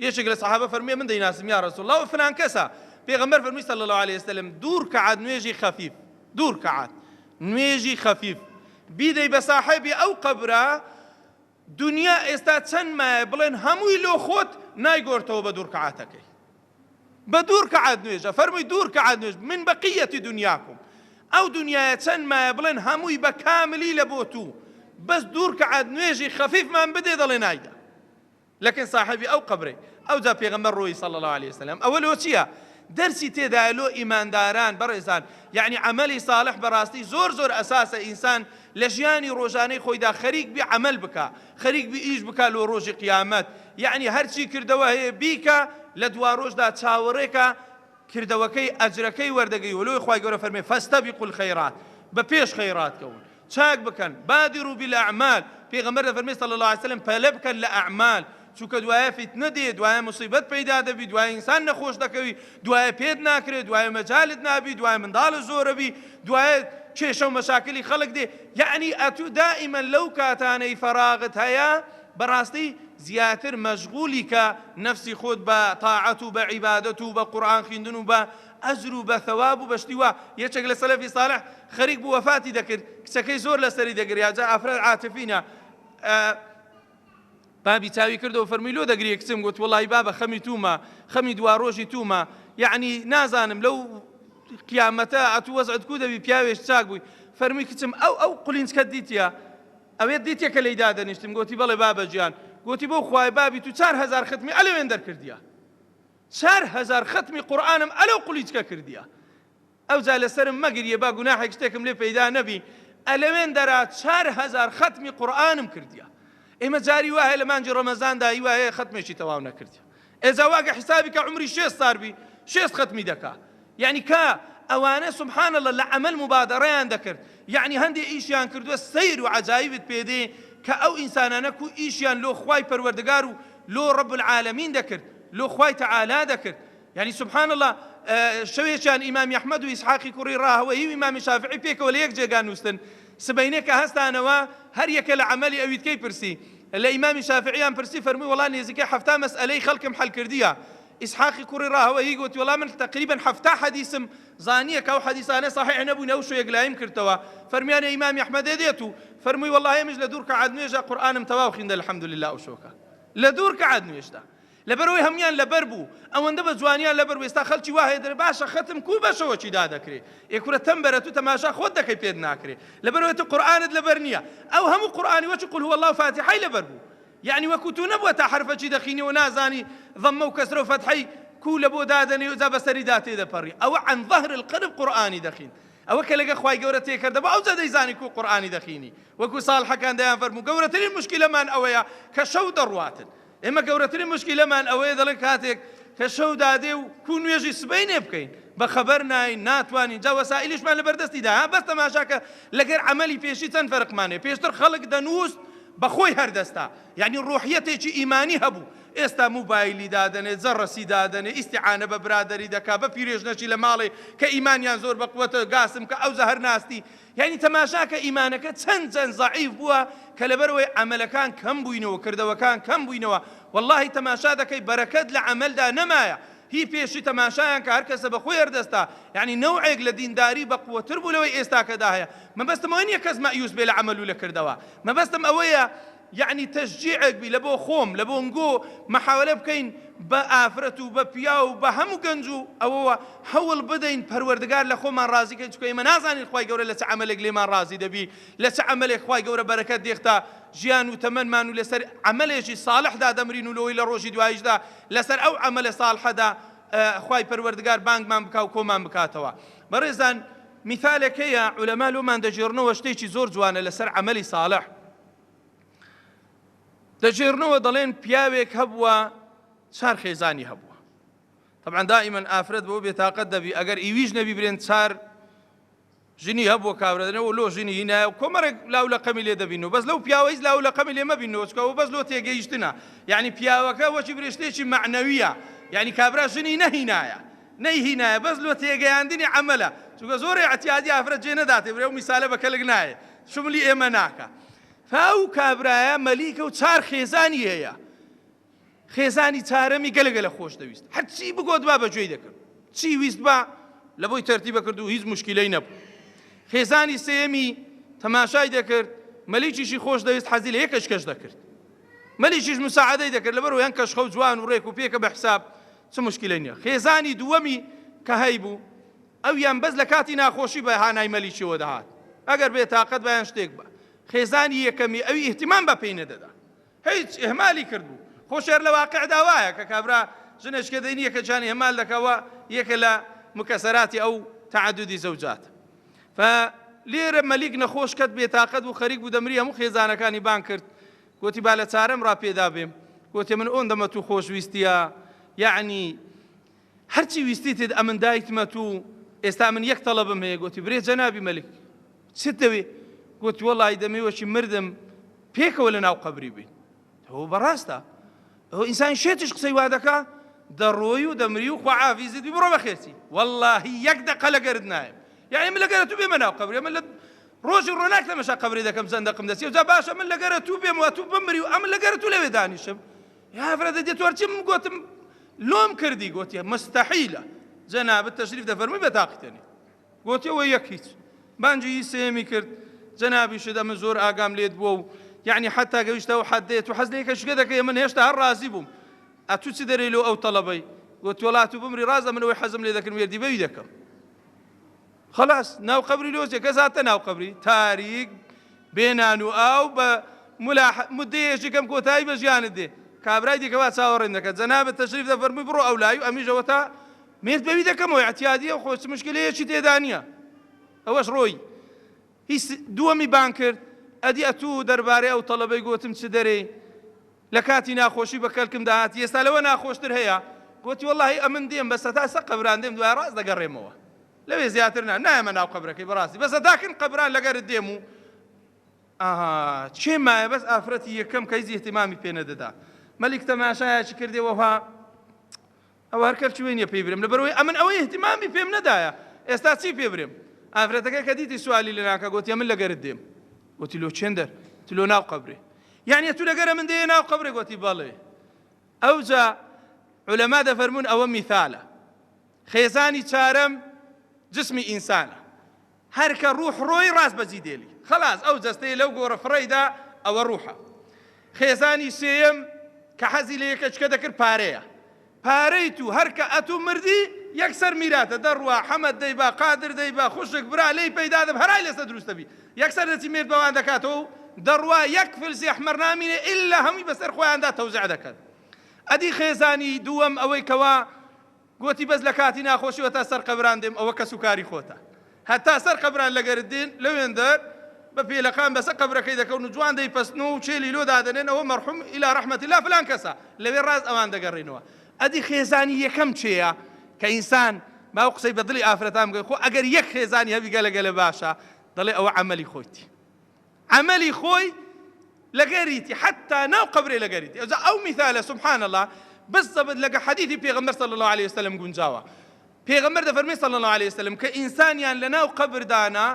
یەکێک لە سەحابە فەرمووی من دەیناسم یا رسول اللە فلان کەسە پێغەمبەر فەرمووی صلی اللە علیە وسلم دوو رکعات نوێژی خەفیف دوو رکعات نوێژی خەفیف بیدەی بە ساحێبی ئەو قەبرە دنیا ئێستا چەند مایە بڵێن هەمووی لۆ خۆت نایگۆرتەوە بە دوو رکعاتەکەی بە دوو رکعات نوێژە فەرمووی دوو رکعات نوێژ من بەقیەتی دنیاکم ئەو دنیاە چەند مایە بڵێن هەمووی بە کاملی لە بۆ تو بەس دوو رکعات نوێژی خەفیفمان بدێ دەڵێ نایدە لەکن ساحێبی ئەو قەبرەی. ئەوجا پێغەمبەر ڕۆیی صلی اللە علیە وسلم. ئەوە لۆ چیە؟ دەرسی تێدایە لۆ ئیمانداران بەڕێزان یەعنی عەمەلی صالح بەڕاستی زۆر زۆر ئەساسە ئینسان لە ژیانی ڕۆژانەی خۆیدا خەریک بی عەمەل بکا خەریک بی ئیش بکا لۆ ڕۆژی قیامەت یەعنی هەرچی کردەوە هەیە بیکا لە دواڕۆژدا چاوەڕێکە کردەوەکەی ئەجرەکەی وەردەگری ولۆی خوای گەورە فەرمێ فاستبقوا الخیرات بە پێش خەیرات کەون چاک بکەن بادروا بالاعمال پێغەمبەر دەفەرمێ صلی اللە علیە وسلم پەلە بکەن لە ئەعمال چونکە دوایە فیتنە دێ دوایە موسیبەت پەیدا دەبی دوایە ئینسان نەخۆش دەکەوی دوایە پێت ناکرێ دوایە مەجالت نابی دوایە منداڵت زۆرەبی دوایە کێشە و مەشاکلی خەڵک دێ یەعنی ئەتوو دائیمەن لەو کاتانەی فەراغت هەیە بەڕاستی زیاتر مەشغولی کە نەفسی خۆت بە تاعەت و بە عیبادەت و بە قورئان خویندن و بە ئەجر و بە ثەواب و بە شتی وا یەکێک لە سەلەفی سالح خەریک بوو وەفاتی دەکرد کچەکەی زۆر لەسەری دەگریا جا ئافرەت عاتفینە بابی چاوی کردەوە فەرمی لۆ دەگری کچم گوت وڵی بابە خەمی تومە خەمی دوا ڕۆژی تومە یعنی نازانم لەو قیامەتە ئەتو وەزعت کو دەبی پیاوێش چاک بووی فەرمی کچم ئەو ئەو قلینچکە دیتە ئەوێت دیتیە کە لێی دادەنیشتم؟ گۆتی، بەڵێ بابە گیان. گۆتی، بەو خوایە بابی تو چار هەزار ختمی ئەلەوێن دەرکردیە. چار هەزار ختمی قورئانم ئەلەو قلیچکە کردیە. ئەوجا لە سەرم مەگریە با گوناحێک شتێکم لێ پەیدا نەبی. ئەلەوێن دەرا چار هەزار ختمی قورئانم کردیە. ئێمە جاری وایە لە مانگی ڕەمەزاندا هیوایە ختمێکی تەواو نەکردیە. ئێجا واکە حیسابی کە عومری شێست سار بی شێست خەتمی دەکا یەعنی کا ئەوانە سبحان اللە لە عەمەل مبادەڕەیان دەکرد یەعنی هەندێ ئیشیان کردوە سەیر و عەجایبت پێ دێ کە ئەو ئینسانانە کو ئیشیان لۆ خوای پەروەردگار و لۆ رب العالمین دەکرد لۆ خوای تعالی دەکرد یەعنی سبحان اللە شەوێکیان ئیمامی ئەحمەد و ئیسحاقی کوڕی راهەوەیی و ئیمامی شافعی پێکەوە لە یەک جێگا نوستن سبەینێ کە هەستانەوە هەر یەکە لە عەمەلی ئەویتکەی پرسی، لە ئیمامی شافعیان پرسی فەرمووی وەڵا نێزیکەی حەفتا مەسئەلەی خەڵکم حەل کردیە، ئیسحاقی کوڕی ڕاهوەیی گۆتی وەڵا من تەقریبەن حەفتا حەدیسم زانیە کە ئەو حەدیسانە صحیح نەبوون ئەوشۆ یەکلایم کردتەوە، فەرمویانە ئیمامی ئەحمەدێ دێت و فەرمووی وەڵا ئێمەش لە دوو رکەعات نوێژا قورئانم تەواو خیندە الحمدللە ئەوشۆکە لە دوو رکەعات نوێژدا. لەبەرئەوەی هەموویان لەبەر بوو ئەوەندە بە جوانیان لەبەر بوو ئێستا خەلکی وا هەیە دەرێ باشە خەتم کوو بە شەوەکی دادەکرێ ئێ کورە تەمبەرە تو تەماشا خۆت دەکەی پێت ناکرێ لەبەرئەوەی تو قورئانت لەبەر نییە ئەو هەموو قورئانی وەکی قل هو اللە و فاتیحەی لەبەر بوو یەعنی وەکو تو نەبووە تا حەرفەکی دەخینی و نازانی ضمە و کەسرە و فەتحەی کوو لە بۆ دادەنێ و جا بەسەریدا تێدەپەڕی ئەوە عن ظهر القلب قورئانی دەخین ئەوە کە لەگە خوای گەورە تێکەر دەبوو ئەوجا دەیزانی کو قورئانی دەخینی وەکو ساڵحەکان دەیان فەرموو گەورەترین مشکلەمان ئەوەیە کە شەو دەڕواتن ئێمە گەورەترین مشکیلەمان ئەوەیە دەڵێن کاتێک کە شەو دادێ و کو نوێژی سبەینێ بکەین بە خەبەر ناین ناتوانین جا وەسائلیشمان لە بەردەستیدا ها بەس تەماشاکە لەگەر عملی پێشی چەند فەرقمانێ پێشتر خەڵک دەنووست بەخۆی هەردەستا یعنی ڕۆحیەتێکی ئیمانی هەبوو ئێستا موبایلی دادەنێ جەڕەسی دادەنێ ئیسیعانە بە برادری دەکا بە پیرێژنەشی لە ماڵێ کە ئیمانیان زۆر بەقوەتە گاسم کە ئەو زەهر ناستی یانی تەماشاکە ئیمانەکە چەند چەند زەعیف بووە کە لەبەرەوەی عەمەلەکان کەم بووینەوە کردەوەکان کەم بووینەوە وەڵاهی تەماشا دەکەی بەرەکەت لە عەمەلدا نەمایە هی پێشی تەماشایان کە هەرکەسە بە خۆی هەردەستا یعنی نەوعێک لە دینداری بە قوەتر بوو لەوەی ئێستاکەدا هەیە مەبەستم ئەوە نییە کەس مەئیوس بێ لە عەمەل و لە کردەوە مەبەستم ئەوەیە یەعنی تەشجیعێک بی لە بۆ خۆم لە بۆ نگۆ محاولە بکەین بە ئافرەت و بە پیاو و بە هەموو گەنج و ئەوەوە هەوڵ بدەین پەروەردگار لە خۆمان ڕازی کەین چونکە ئێمە نازانین خوای گەورە لە چ عەمەلێک لێمان ڕازی دەبی لە چ عەمەلێک خوای گەورە بەرەکەت دێختە ژیان و تەمەنمان و لەسەر عەمەلێکی صاڵحدا دەمرین و لۆی لە ڕۆژی دوایشدا لەسەر ئەو عەمەلە صاڵحەدا خوای پەروەردگار بانگمان بکا و کۆمان بکاتەوە بەڕێزان میثالێک هەیە عولەما لۆمان دەگێڕنەوە شتێکی زۆر جوانە لەسەر عەمەلی صاڵح دەگێڕنەوە دەڵێن پیاوێک هەبووە چار خێزانی هەبووە طبعا دائما ئافرەت بۆ بێتاقەت دەبی ئەگەر ئیویش نەبی برێن چار ژنی هەبووە کابرەدنەوە لۆ ژنی هینایە و کۆمەرێک لاو لە قەمی لێ دەبین و بەس لەو پیاوەیز لاو لە قەمی لێ مەبین نۆچکەوە بەس لۆ تێگەیشتنە یعنی پیاوەکە وەچی برێشتێکی معنەویە یعنی کابرا ژنی نەهینایە نەیهینایە بەس لۆ تێگەیاندنی عملە چونکە زۆر اعتیادی ئافرەت جێ نەداتێ برێ و میسالە بە کەلک نایە شملی ئێمە ناکا فا و کابرایە مەلیکە و چار خێزانی هەیە خێزانی چارەمی گەلگە لە خۆش دەویست هەرچی بگۆت با بەگوێی دەکرد چی ویست با لە بۆی تەرتی بەکرد و هیچ مشکلەی نەبوو خێزانی سێمی تەماشای دەکرد مەلیکیشی خۆش دەویست حەزی لە یەکەش کەش دەکرد مەلیکیش مساعدەی دەکرد لەبەر یان کەشخە و جوان و ڕێک و پێکە بە حساب چ مشکلەی نیە خێزانی دووەمی کە هەیبوو ئەویان بەس لە کاتی ناخۆشی بە هانای مەلیکیەوە دەهات ئەگەر بێ تاقەت با یان شتێک با خێزانی یەکەمی ئەوی ئیهتیمام بە پێی نەدەدا هیچ ئیهمالی کردبوو خۆ شێر لە واقعدا وایە کە کابرا ژنێش کە دەینی یەکەکیان ئیهمال دەکەوە یەکە لە مکەسەراتی ئەو تعددی زەوجات فە لێرە مەلیک نەخۆش کەت بێتاقەت و خەریک بوو دەمری هەموو خێزانەکانی بان کرد گوتی با لە چارەم ڕاپێدا بێم گوتی من ئۆندەمە تو خۆشویستیە یعنی هەرچی ویستیتت ئەمن دایتمەت و ئێستا من یەک تەڵەبم هەیە گۆتی، برێ جەنابی مەلک چت دەوێ؟ گۆتی، وەڵاهی دەمێ وەکی مردم پێکەوە لە ناو قەبری بین. ئەوە بەڕاستە؟ ئەوە ئینسانی شێتیش قسەی وا دەکا؟ دەڕۆی و دەمری و خوا عافیزت بی بڕۆ بەخێرچی. وەڵاهی یەک دەقە لەگەرت نایم. یەعنی من لەگەرە تو بێمە ناو قەبری؟ ئەمن لە ڕۆژی ڕۆناک تەمەشا قەبرێ دەکەم چەند دەقم دەچێ؟ جا باشە من لەگەرە تو بێم و ئەتوو بمری و ئەمن لەگەرە تو لەوێ دانیشم؟ هەڤرەدە دێتۆر چم گۆتم لۆم کردی گۆتیە مستحیلە جەنابت تەشریف دەفەرمی بە تاقیتەنی گۆتیەوە یەک هیچ بانجی سێمی کرد جەنابی شدا من زۆر ئاگام لێت بووە و یعنی حتا گەویشتە و حدێت و حەز لەیەکە شگە دەکەی من هێشتا هەر ڕازی بووم ئەتو چ دەرەی لۆ ئەو تەڵەبەی گۆتۆلات و بمری ڕازە منەوەی حەزم لێ دەکرد وێردی بەوی دەکەم خەلاس ناو قەبری لۆزیە کەس هاتە ناو قەبری تاریک بێ نان و ئاو بە ملاح مدەیەشی کەم کۆتایی بە ژیانت دێ کابرای دیکەوا چاوەڕێن دەکەن جەنابت تەشریف دەفەرمووی بڕۆ ئەو لای و ئەمیشەوە تا مێرد بەوی دەکەمەوە ئەتیادیە خۆ چ مشکلەیەکی تێدا نییە ئەوەش ڕۆی هیچ دووەمی بان کرد ئەدی ئەتوو دەربارەی ئەو تەڵەبەی گوتم چ دەرێ لە کاتی ناخۆشی بە کەلکم دەهاتی ئێستا لەوە ناخۆشتر هەیە؟ گۆتی، وەڵاهی ئەمن دێم بەس هەتا سەر قەبران دێم دوای ڕاست دەگەڕێمەوە لەوێ زیاتر نا نایەمە ناو قەبرەکەی بەڕاستی بەس هەتا کن قەبران لەگەرت دێم و ئاها چێ مایە بەس ئافرەتی یەکەم کە هیچ ئیهتیمامی پێ نەدەدا مەلیک تەماشایەکی کردێ وەها ئەوە هەر کەر چوێنیە پێی برێم لەبەرەوەی ئەمن ئەوەی اهتمامی پێم نەدایە ئێستا چی پێ برێم ئافرەتەکە کە دیتی سوالی لە ناکە گوتی من لەگەرت دێم گوتی لۆ چێندەر تو لۆ ناو قبرێ یعنی تو لەگەرە من دێ ناو قبرێ گوتی بەڵێ ئەوجا علەما دەفەرمونون ئەوە میثالە خێزانی چارەم جسمی ئینسانە هەر کە ڕوح ڕۆی ڕاست بە جیدێلی خەڵاس ئەو جەستەی لەو گۆڕە فڕەیدا ئەوە ڕوحە. خێزانی سێیەم کە حەزی لە یەکەچکە دەکرد پارەیە. پارەی تو هەر کە ئەتو مردی یەکسەر میراتە دەڕوا حەمە دەیبا قادر دەیبا خوشک برا لێی پەیدا دەب هەرای لەسە دروست دەبی یەکسەر دەچی مێرد بەوان دەکاتەوە و دەڕوا یەک فلسی ئەحمەر نامینێ ئیلا هەموی بەسەر خۆیاندا تەوزع دەکەن ئەدی خێزانی دووەم ئەوەی کەوا گۆتی، بەس لە کاتی ناخۆشی هەتا سەر قەبران دێم ئەوە کەس و کاری خۆتە هەتا سەر قەبران لەگەرت دێن لەوێندەر بە پێلەقان بەسە قەبرەکەی دەکەون و جوان دەیپەستنەوە و چێلی لۆ دادەنێن ئەوە مەرحوم الی رحمت اللە فلان کەسە لەوێ راست ئەوان دەگەرێنەوە ئەدی خێزانی یەکەم چێە کە ئینسان با ئەو قسەی بە دڵی ئافرەتان بگەن خۆ ئەگەر یەک خێزانی هەبی گەلە گەلە باشە دەڵێ ئەوە عەمەلی خۆیتی. عەمەلی خۆی لەگەریتی حەتا ناو قەبرێ لەگەریتی ئەوجا ئەو میثالە سبحان الله بس زەبت لەگە حەدیثی پێغەمبەر صلی الله عليه وسلم گونجاوە پێغەمبەر دەفەرمی صلی الله عليه وسلم کە ئینسانیان لەناو قەبردانا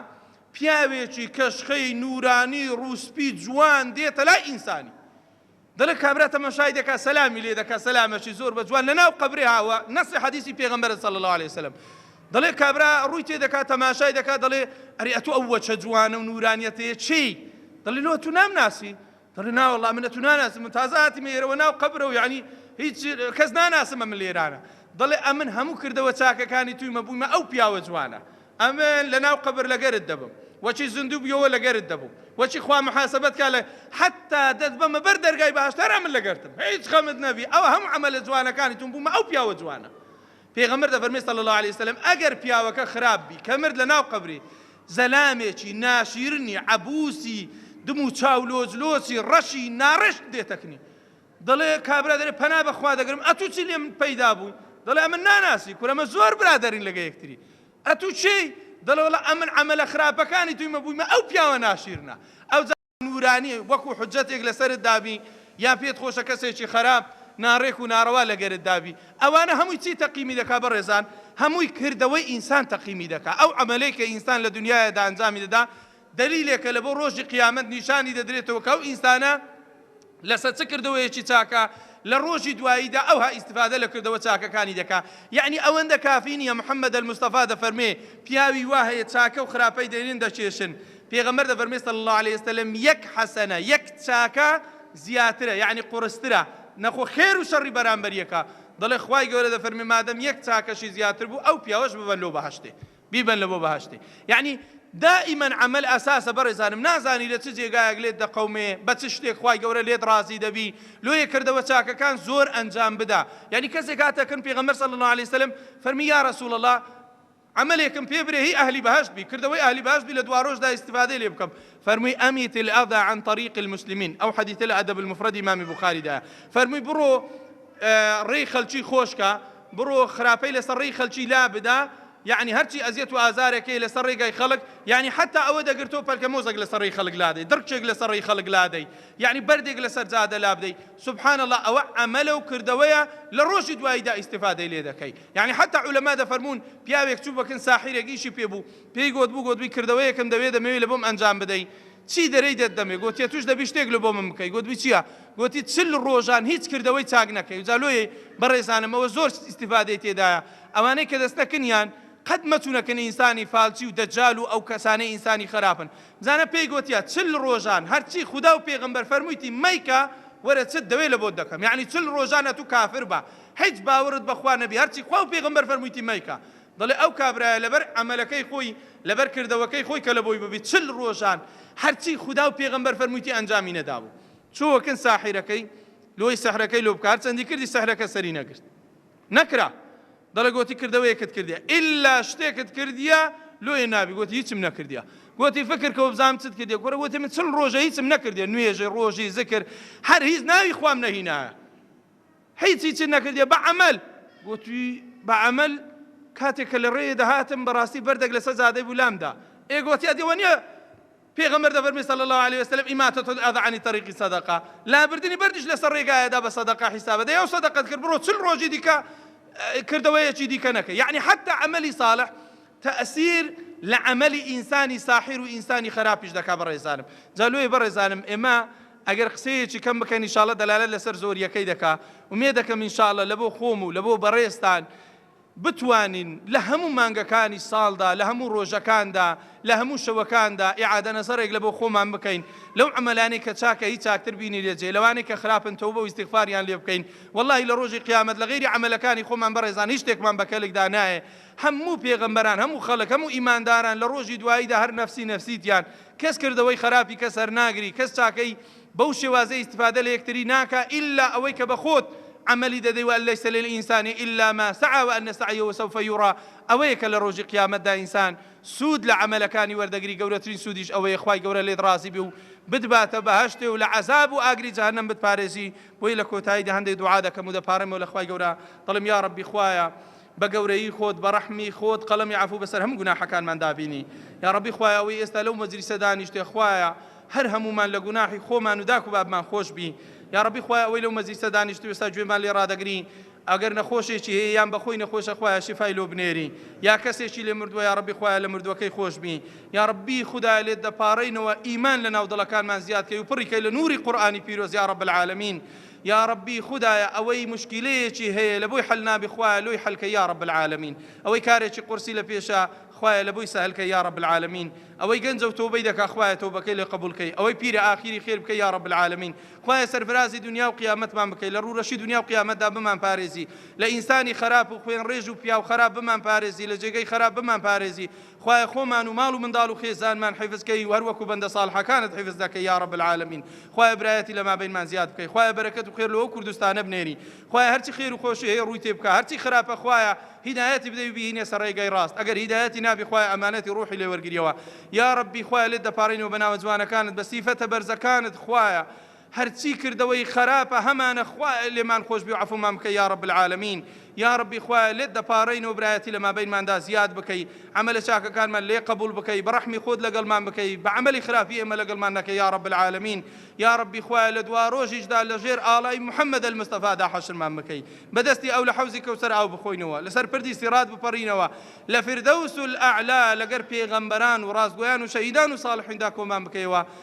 پیاوێکی کەشخەی نورانی ڕوسپی جوان دێتە لای ئینسانی دەڵێ کابرا تەماشای دەکا سەلامی لێ دەکا سەلامەشی زۆر بە جوان لەناو قەبرێ هاوە نەسی حەدیسی پێغەمبەر صلی الله علیه وسلم دەڵێ کابرا ڕووی تێ دەکا تەماشای دەکا دەڵێ ئەری ئەتو ئەو وەچە جوانە و نورانیەتەیە چی دەڵێ لۆ تو نام ناسی دەڵێ ناوەڵا منە تو ناناسی من تازە هاتیمە ئێرەوە ناو قەبرە و یعنی هیچ کەس ناناسمە من لێرانە دەڵێ ئەمن هەموو کردەوە چاکەکانی تویمە بوویمە ئەو پیاوە جوانە ئەمن لە ناو قەبر لەگەرت دەبم وەچی زندوو بیەوە لەگەرت دەبم وەچی خوا محاسبەت کا لە حەتا دەت بەمە بەر دەرگای بەهەشت هەر ئەمن لەگەرتم هیچ خەمت نەبی ئەوە هەموو عەمەلە جوانەکانی توم بوومە ئەو پیاوە جوانە پێغەمبەر دەفەرمی صلی اللە علیە وسلم ئەگەر پیاوەکە خراپ بی کە مرد لە ناو قەبری زەلامێکی ناشیرنی عەبوسی دم و چاو لۆچ لۆچی ڕەشی ناڕێشت دێتەکنی دەڵێ کابرا دەرێ پەنا بەخوا دەگرم ئەتوو چی لێم پەیدا بووی دەڵێ ئەمن ناناسی کورەمە زۆر برادرین لەگە یەکتری ئەتوو چی دەڵێڵە ئەمن ئەمەلە خراپەکانی تویمە بوویمە ئەو پیاوە ناشیرنە ئەو نورانی وەکو حجەتێک لەسرت دابی یا پێت خۆشە کەسێکی خراپ ناڕێک و ناڕەوا لەگەرت دابی ئەوانە هەمووی چی تەقیمی دەکا بەڕێزان هەمووی کردەوەی ئینسان تەقیمی دەکا ئەو ئەمەلەی کە ئینسان لە دنیاەدا ئەنجامی دەدا دەلیلێکە لەبۆ ڕۆژی قیامەت نیشانی دەدرێتەوە کە ئەو ئینسانە لەسەر چ کردەوەیەکی چاکە لە ڕۆژی دواییدا ئەوها ئیستیفادە لە کردەوە چاکەکانی دەکا یعنی ئەوەندە کافی نییە محمد المستەفا دەفەرمێ پیاوی وا هەیە چاکە و خراپەی دەرێن دەکێشن پێغەمبەر دەفەرمێ صلی الله علیه وسلم یەک حەسەنە یەک چاکە زیاترە یعنی قورسترە نەخۆ خێر و شەڕی بەرامبەریەکە دەڵێ خوای گەورە دەفەرمێ مادەم یەک چاکەشی زیاتر بوو ئەو پیاوەش ببەن لۆ بەهەشتێ بیبەن لە بۆ بەهەشتێ یەعنی دائیمەن عەمەل ئەساسە بەڕێزانم نازانی لە چ جێگایەک لێت دەقەومێ بە چ شتێک خوای گەورە لێت ڕازی دەبی لۆیە کردەوە چاکەکان زۆر ئەنجام بدا یەعنی کەسێک هاتە کن پێغەمبەر صلی الله علیه وسلم فەرمی یا رسول الله عملێکم پێ برێ هی ئەهلی بەهشت بی کردەوەی ئەهلی بەهشت بی لە دوارۆژدا استفادەی لێ بکەم فەرمووی ئەمیت الأذى عن طريق المسلمين ئەو حەدیثە لە ئەدەب المفرد ئیمامی بوخاریدا فەرمووی بڕۆ ڕێی خەلکی خۆشکە بڕۆ خراپەی لەسەر ڕێی خەلکی لابدە یەعنی هەرچی ئەزیەت و ئازارێک هەیە لەسەر ڕێگای خەڵک یەعنی حەتا ئەوە دەگرت تۆ پەلکە مۆزەک لەسەر ڕێی خەڵک لادەی دڕکێک لەسەر ڕێی خەڵک لادەی یەعنی بەردێک لەسەر جادە لابدەی سبحان اللە ئەوە عەمەلە و کردەوەیە لە ڕۆژی دواییدا ئیستیفادەی لێ دەکەی یەعنی حەتا عولەما دەفەرموون پیاوێک چوو بە کن ساحیرێک ئیشی پێ بوو پێی گۆت بوو گۆت بووی کردەوەیەکم دەوێ دەمەوێ لە بۆم ئەنجام بدەی چی دەرێی دێت دەمێ؟ گۆتی، ئەتووش دەبی شتێک لۆ بۆ من بکەی. گۆتبی، چییە؟ گۆتی، چل ڕۆژان هیچ کردەوەی چاک نەکەی و جا لۆیەی بەڕێزانم ئەوە زۆر ئیستیفادەی تێدایە، ئەوانەی کە دەستە کنیان قەت مەچوونە کن ئینسانی فالچی و دەجال و ئەو کەسانەی ئینسانی خەراپن. بزانە پێی گۆتیە، چل ڕۆژان هەرچی خودا و پێغەمبەر فەرموویتی مەیکە، وەرە چت دەوێ لە بۆت دەکەم. یەعنی چل ڕۆژان ئەتوو کافر بە، هیچ باوەڕت بە خوا نەبی، هەرچی خوا و پێغەمبەر فەرموویتی مەیکە. دەڵێ ئەو کابرایە لەبەر عەمەلەکەی خۆی لەبەر کردەوەکەی خۆی کە لەبۆی ببی چل ڕۆژان هەرچی خودا و پێغەمبەر فەرموویتی ئەنجامی نەدابوو چووەکن ساحیرەکەی لۆی سحرەکەی لۆ بکە هەرچەندی کردی سحرەکە سەری نەگرت نەکرا دەڵێ گۆتی کردەوەیەکت کردیە ئیلا شتێکت کردیە لۆیە نابی گۆتی هیچم نەکردیە گۆتی فکر کە بزانم چت کردیە گۆرە گۆتی من چل ڕۆژە هیچم نەکردیە نوێژی ڕۆژی زکر هەر هیچ ناوی خوام نەهینایە هیچی چ نەکردیە بە عەمەل. گۆتی، بە عەمەل؟ کاتێ کە لە ڕێێ دەهاتم بە ڕاستی بەردەک لە سە جادەی بوو لام دا. ئێ گۆتی، ئەدی وە نیە پێغەمبەر دەفەرموی صلی اللە علیە وسلم، اماطة الاذی عن الطریق صدقە، لابردنی بەردیش لە سە ڕێگایە دا بە سەدەقە حیسابە، دەی ئەو سەدەقەت کرد بڕۆ چل ڕۆژی دیکە کردەوەیەکی دیکە نەکە. یەعنی حەتتا عەمەلی صالح تەئسیر لە عەمەلی ئینسانی ساحیر و ئینسانی خەراپیش دەکا بەڕێزانم. جا لۆیە بەڕێزانم ئێمە ئەگەر قسەیەکی کەم بکەن ئیشاڵە دەلالەت لەسەر زۆریەکەی دەکا ئومێدەکەم ئیشاڵە لەبۆ خۆم و لەبۆ بەڕێزتان بتوانین لە هەموو مانگەکانی ساڵدا لە هەموو ڕۆژەکاندا لە هەموو شەوەکاندا ئیعادە نەزەڕێک لەبۆ خۆمان بکەین لەو عەمەلانەی کە چاکە هی چاکتر بینی لێ جێ لەوانەی کە خراپن تەوبە و ئیستیغفاریان لێ بکەین وەڵڵاهی لە ڕۆژی قیامەت لە غەیری عەمەلەکانی خۆمان بەڕێزان هیچ شتێکمان بە کەلکدا نایێ هەموو پێغەمبەران هەموو خەلک هەموو ئیمانداران لە ڕۆژی دواییدا هەر نەفسی نەفسی تیان کەس کردەوەی خەراپی کەس هەرناگری کەس چاکەی بەو شێوازەی ئیستفادە لە یەکتری ناکا ئیلا ئەوەی کە بە خۆت عەمەلی دەدەی وە ان لیس للانسان الا ما سعی و ان سعیه سوف یری ئەوەیە کە لە ڕۆژی قیامەتدا ئینسان سوود لە عەمەلەکانی وەردەگری گەورەترین سوودیش ئەوەیە خوای گەورە لێت ڕازی بێ و بتباتە بەهەشتێ و لە عەزاب و ئاگری جەهەنەم بتپارێزی بۆیە لە کۆتاییدا هەندێ دوعا دەکەم و دەپاڕێمەوە لە خوای گەورە دەڵێم یاڕەبی خوایە بە گەورەیی خۆت بە ڕەحمی خۆت قەڵەمی عەفو بەسەر هەموو گوناحەکانمان دابینی یاڕەبی خوایە ئەوەی ئێستا لەو مەجلیسە دانیشتێ خوایە هەر هەموومان لە گوناحی خۆمان و داک و بابمان خۆش بی یاڕەبی خوایە ئەوەی لەو مەجلیسە دانیشت و ئێستا گوێمان لێ ڕادەگری ئەگەر نەخۆشێکی هەیە یان بەخۆی نەخۆشە خوایە شیفای لۆ بنێری یا کەسێکی لێ مردووە یاڕەبی خوایە لە مردووەکەی خۆش بی یاڕەبی خودایە لێت دەپاڕێینەوە ئیمان لە ناو دڵەکانمان زیاد کەی و پڕی کەی لە نووری قورئانی پیرۆز یاڕەب العالمین یاڕەبی خودایە ئەوەی موشکیلەیەکی هەیە لەبۆی حەل نابی خوایە لۆی حەلکەی یاڕەب العالمین ئەوەی کارێکی قورسی لەپێشە خوایە لەبۆی سەهل کەی یاڕەب العالمین ئەوەی گەنجە و تۆبەی دەکا خوایە تۆبەکەی لێ قبول کەی ئەوەی پیرە ئاخیری خێر بکەی یاڕەب العالمین خوایە سەرفرازی دنیا و قیامەتمان بکەی لە ڕوورەشی دنیا و قیامەتدا بمان پارێزی لە ئینسانی خەراپ و خوێن ڕێژ و پیاو خەراپ بمان پارێزی لە جێگەی خەراپ بمان پارێزی خوایە خۆمان و ماڵ و منداڵ و خێزانمان حیفز کەی و هەر وەکو بەندە ساڵحەکانت حیفز دەکەی یا رب العالمین خوایە برایەتی لە مابەینمان زیاد بکەی خوایە بەرەکەت و خێر لۆ ئەو کوردستانە بنێری خوایە هەرچی خێر و خۆشی هەیە ڕووی تێ بکە هەرچی خراپە خوایە هیدایەتی بدەی و بیهینێ سەر ڕێگای ڕاست ئەگەر هیدایەتی نابی خوایە ئەمانەتی ڕوحی لێ وەرگریەوە یا ربی خوایە لێت دەپاڕێینەوە بە ناوە جوانەکانت بە سیفەتە بەرزەکانت خوایە هەرچی کردەوەی خەراپە هەمانە خوایە لێمان خۆشبی و عەفومان بکەی یارب العالمین یاربی خوایە لێت دەپاڕین و برایەتی لەمابەینماندا زیاد بکەی عەمەلە چاکەکانمان لێ قبول بکەی بەڕەحمی خۆت لەگەڵمان بکەی بەعەمەلی خراپی ئێمە لەگەڵمان نەکەی یارب العالمین یاربی خوایە لەدواڕۆژیشدا لەژێر ئاڵای محمد المصطفادا حەشرمان بکەی بەدەستی ئەو لەحەوزی کەوسەر ئاو بخۆینەوە لەسەر پردی سیڕات بپەڕینەوە لەفردەوس الاعلی لەگەر پێغەمبەران وڕاستگۆیان وشەهیدان وصاڵحیندا کۆمان بکەیەوە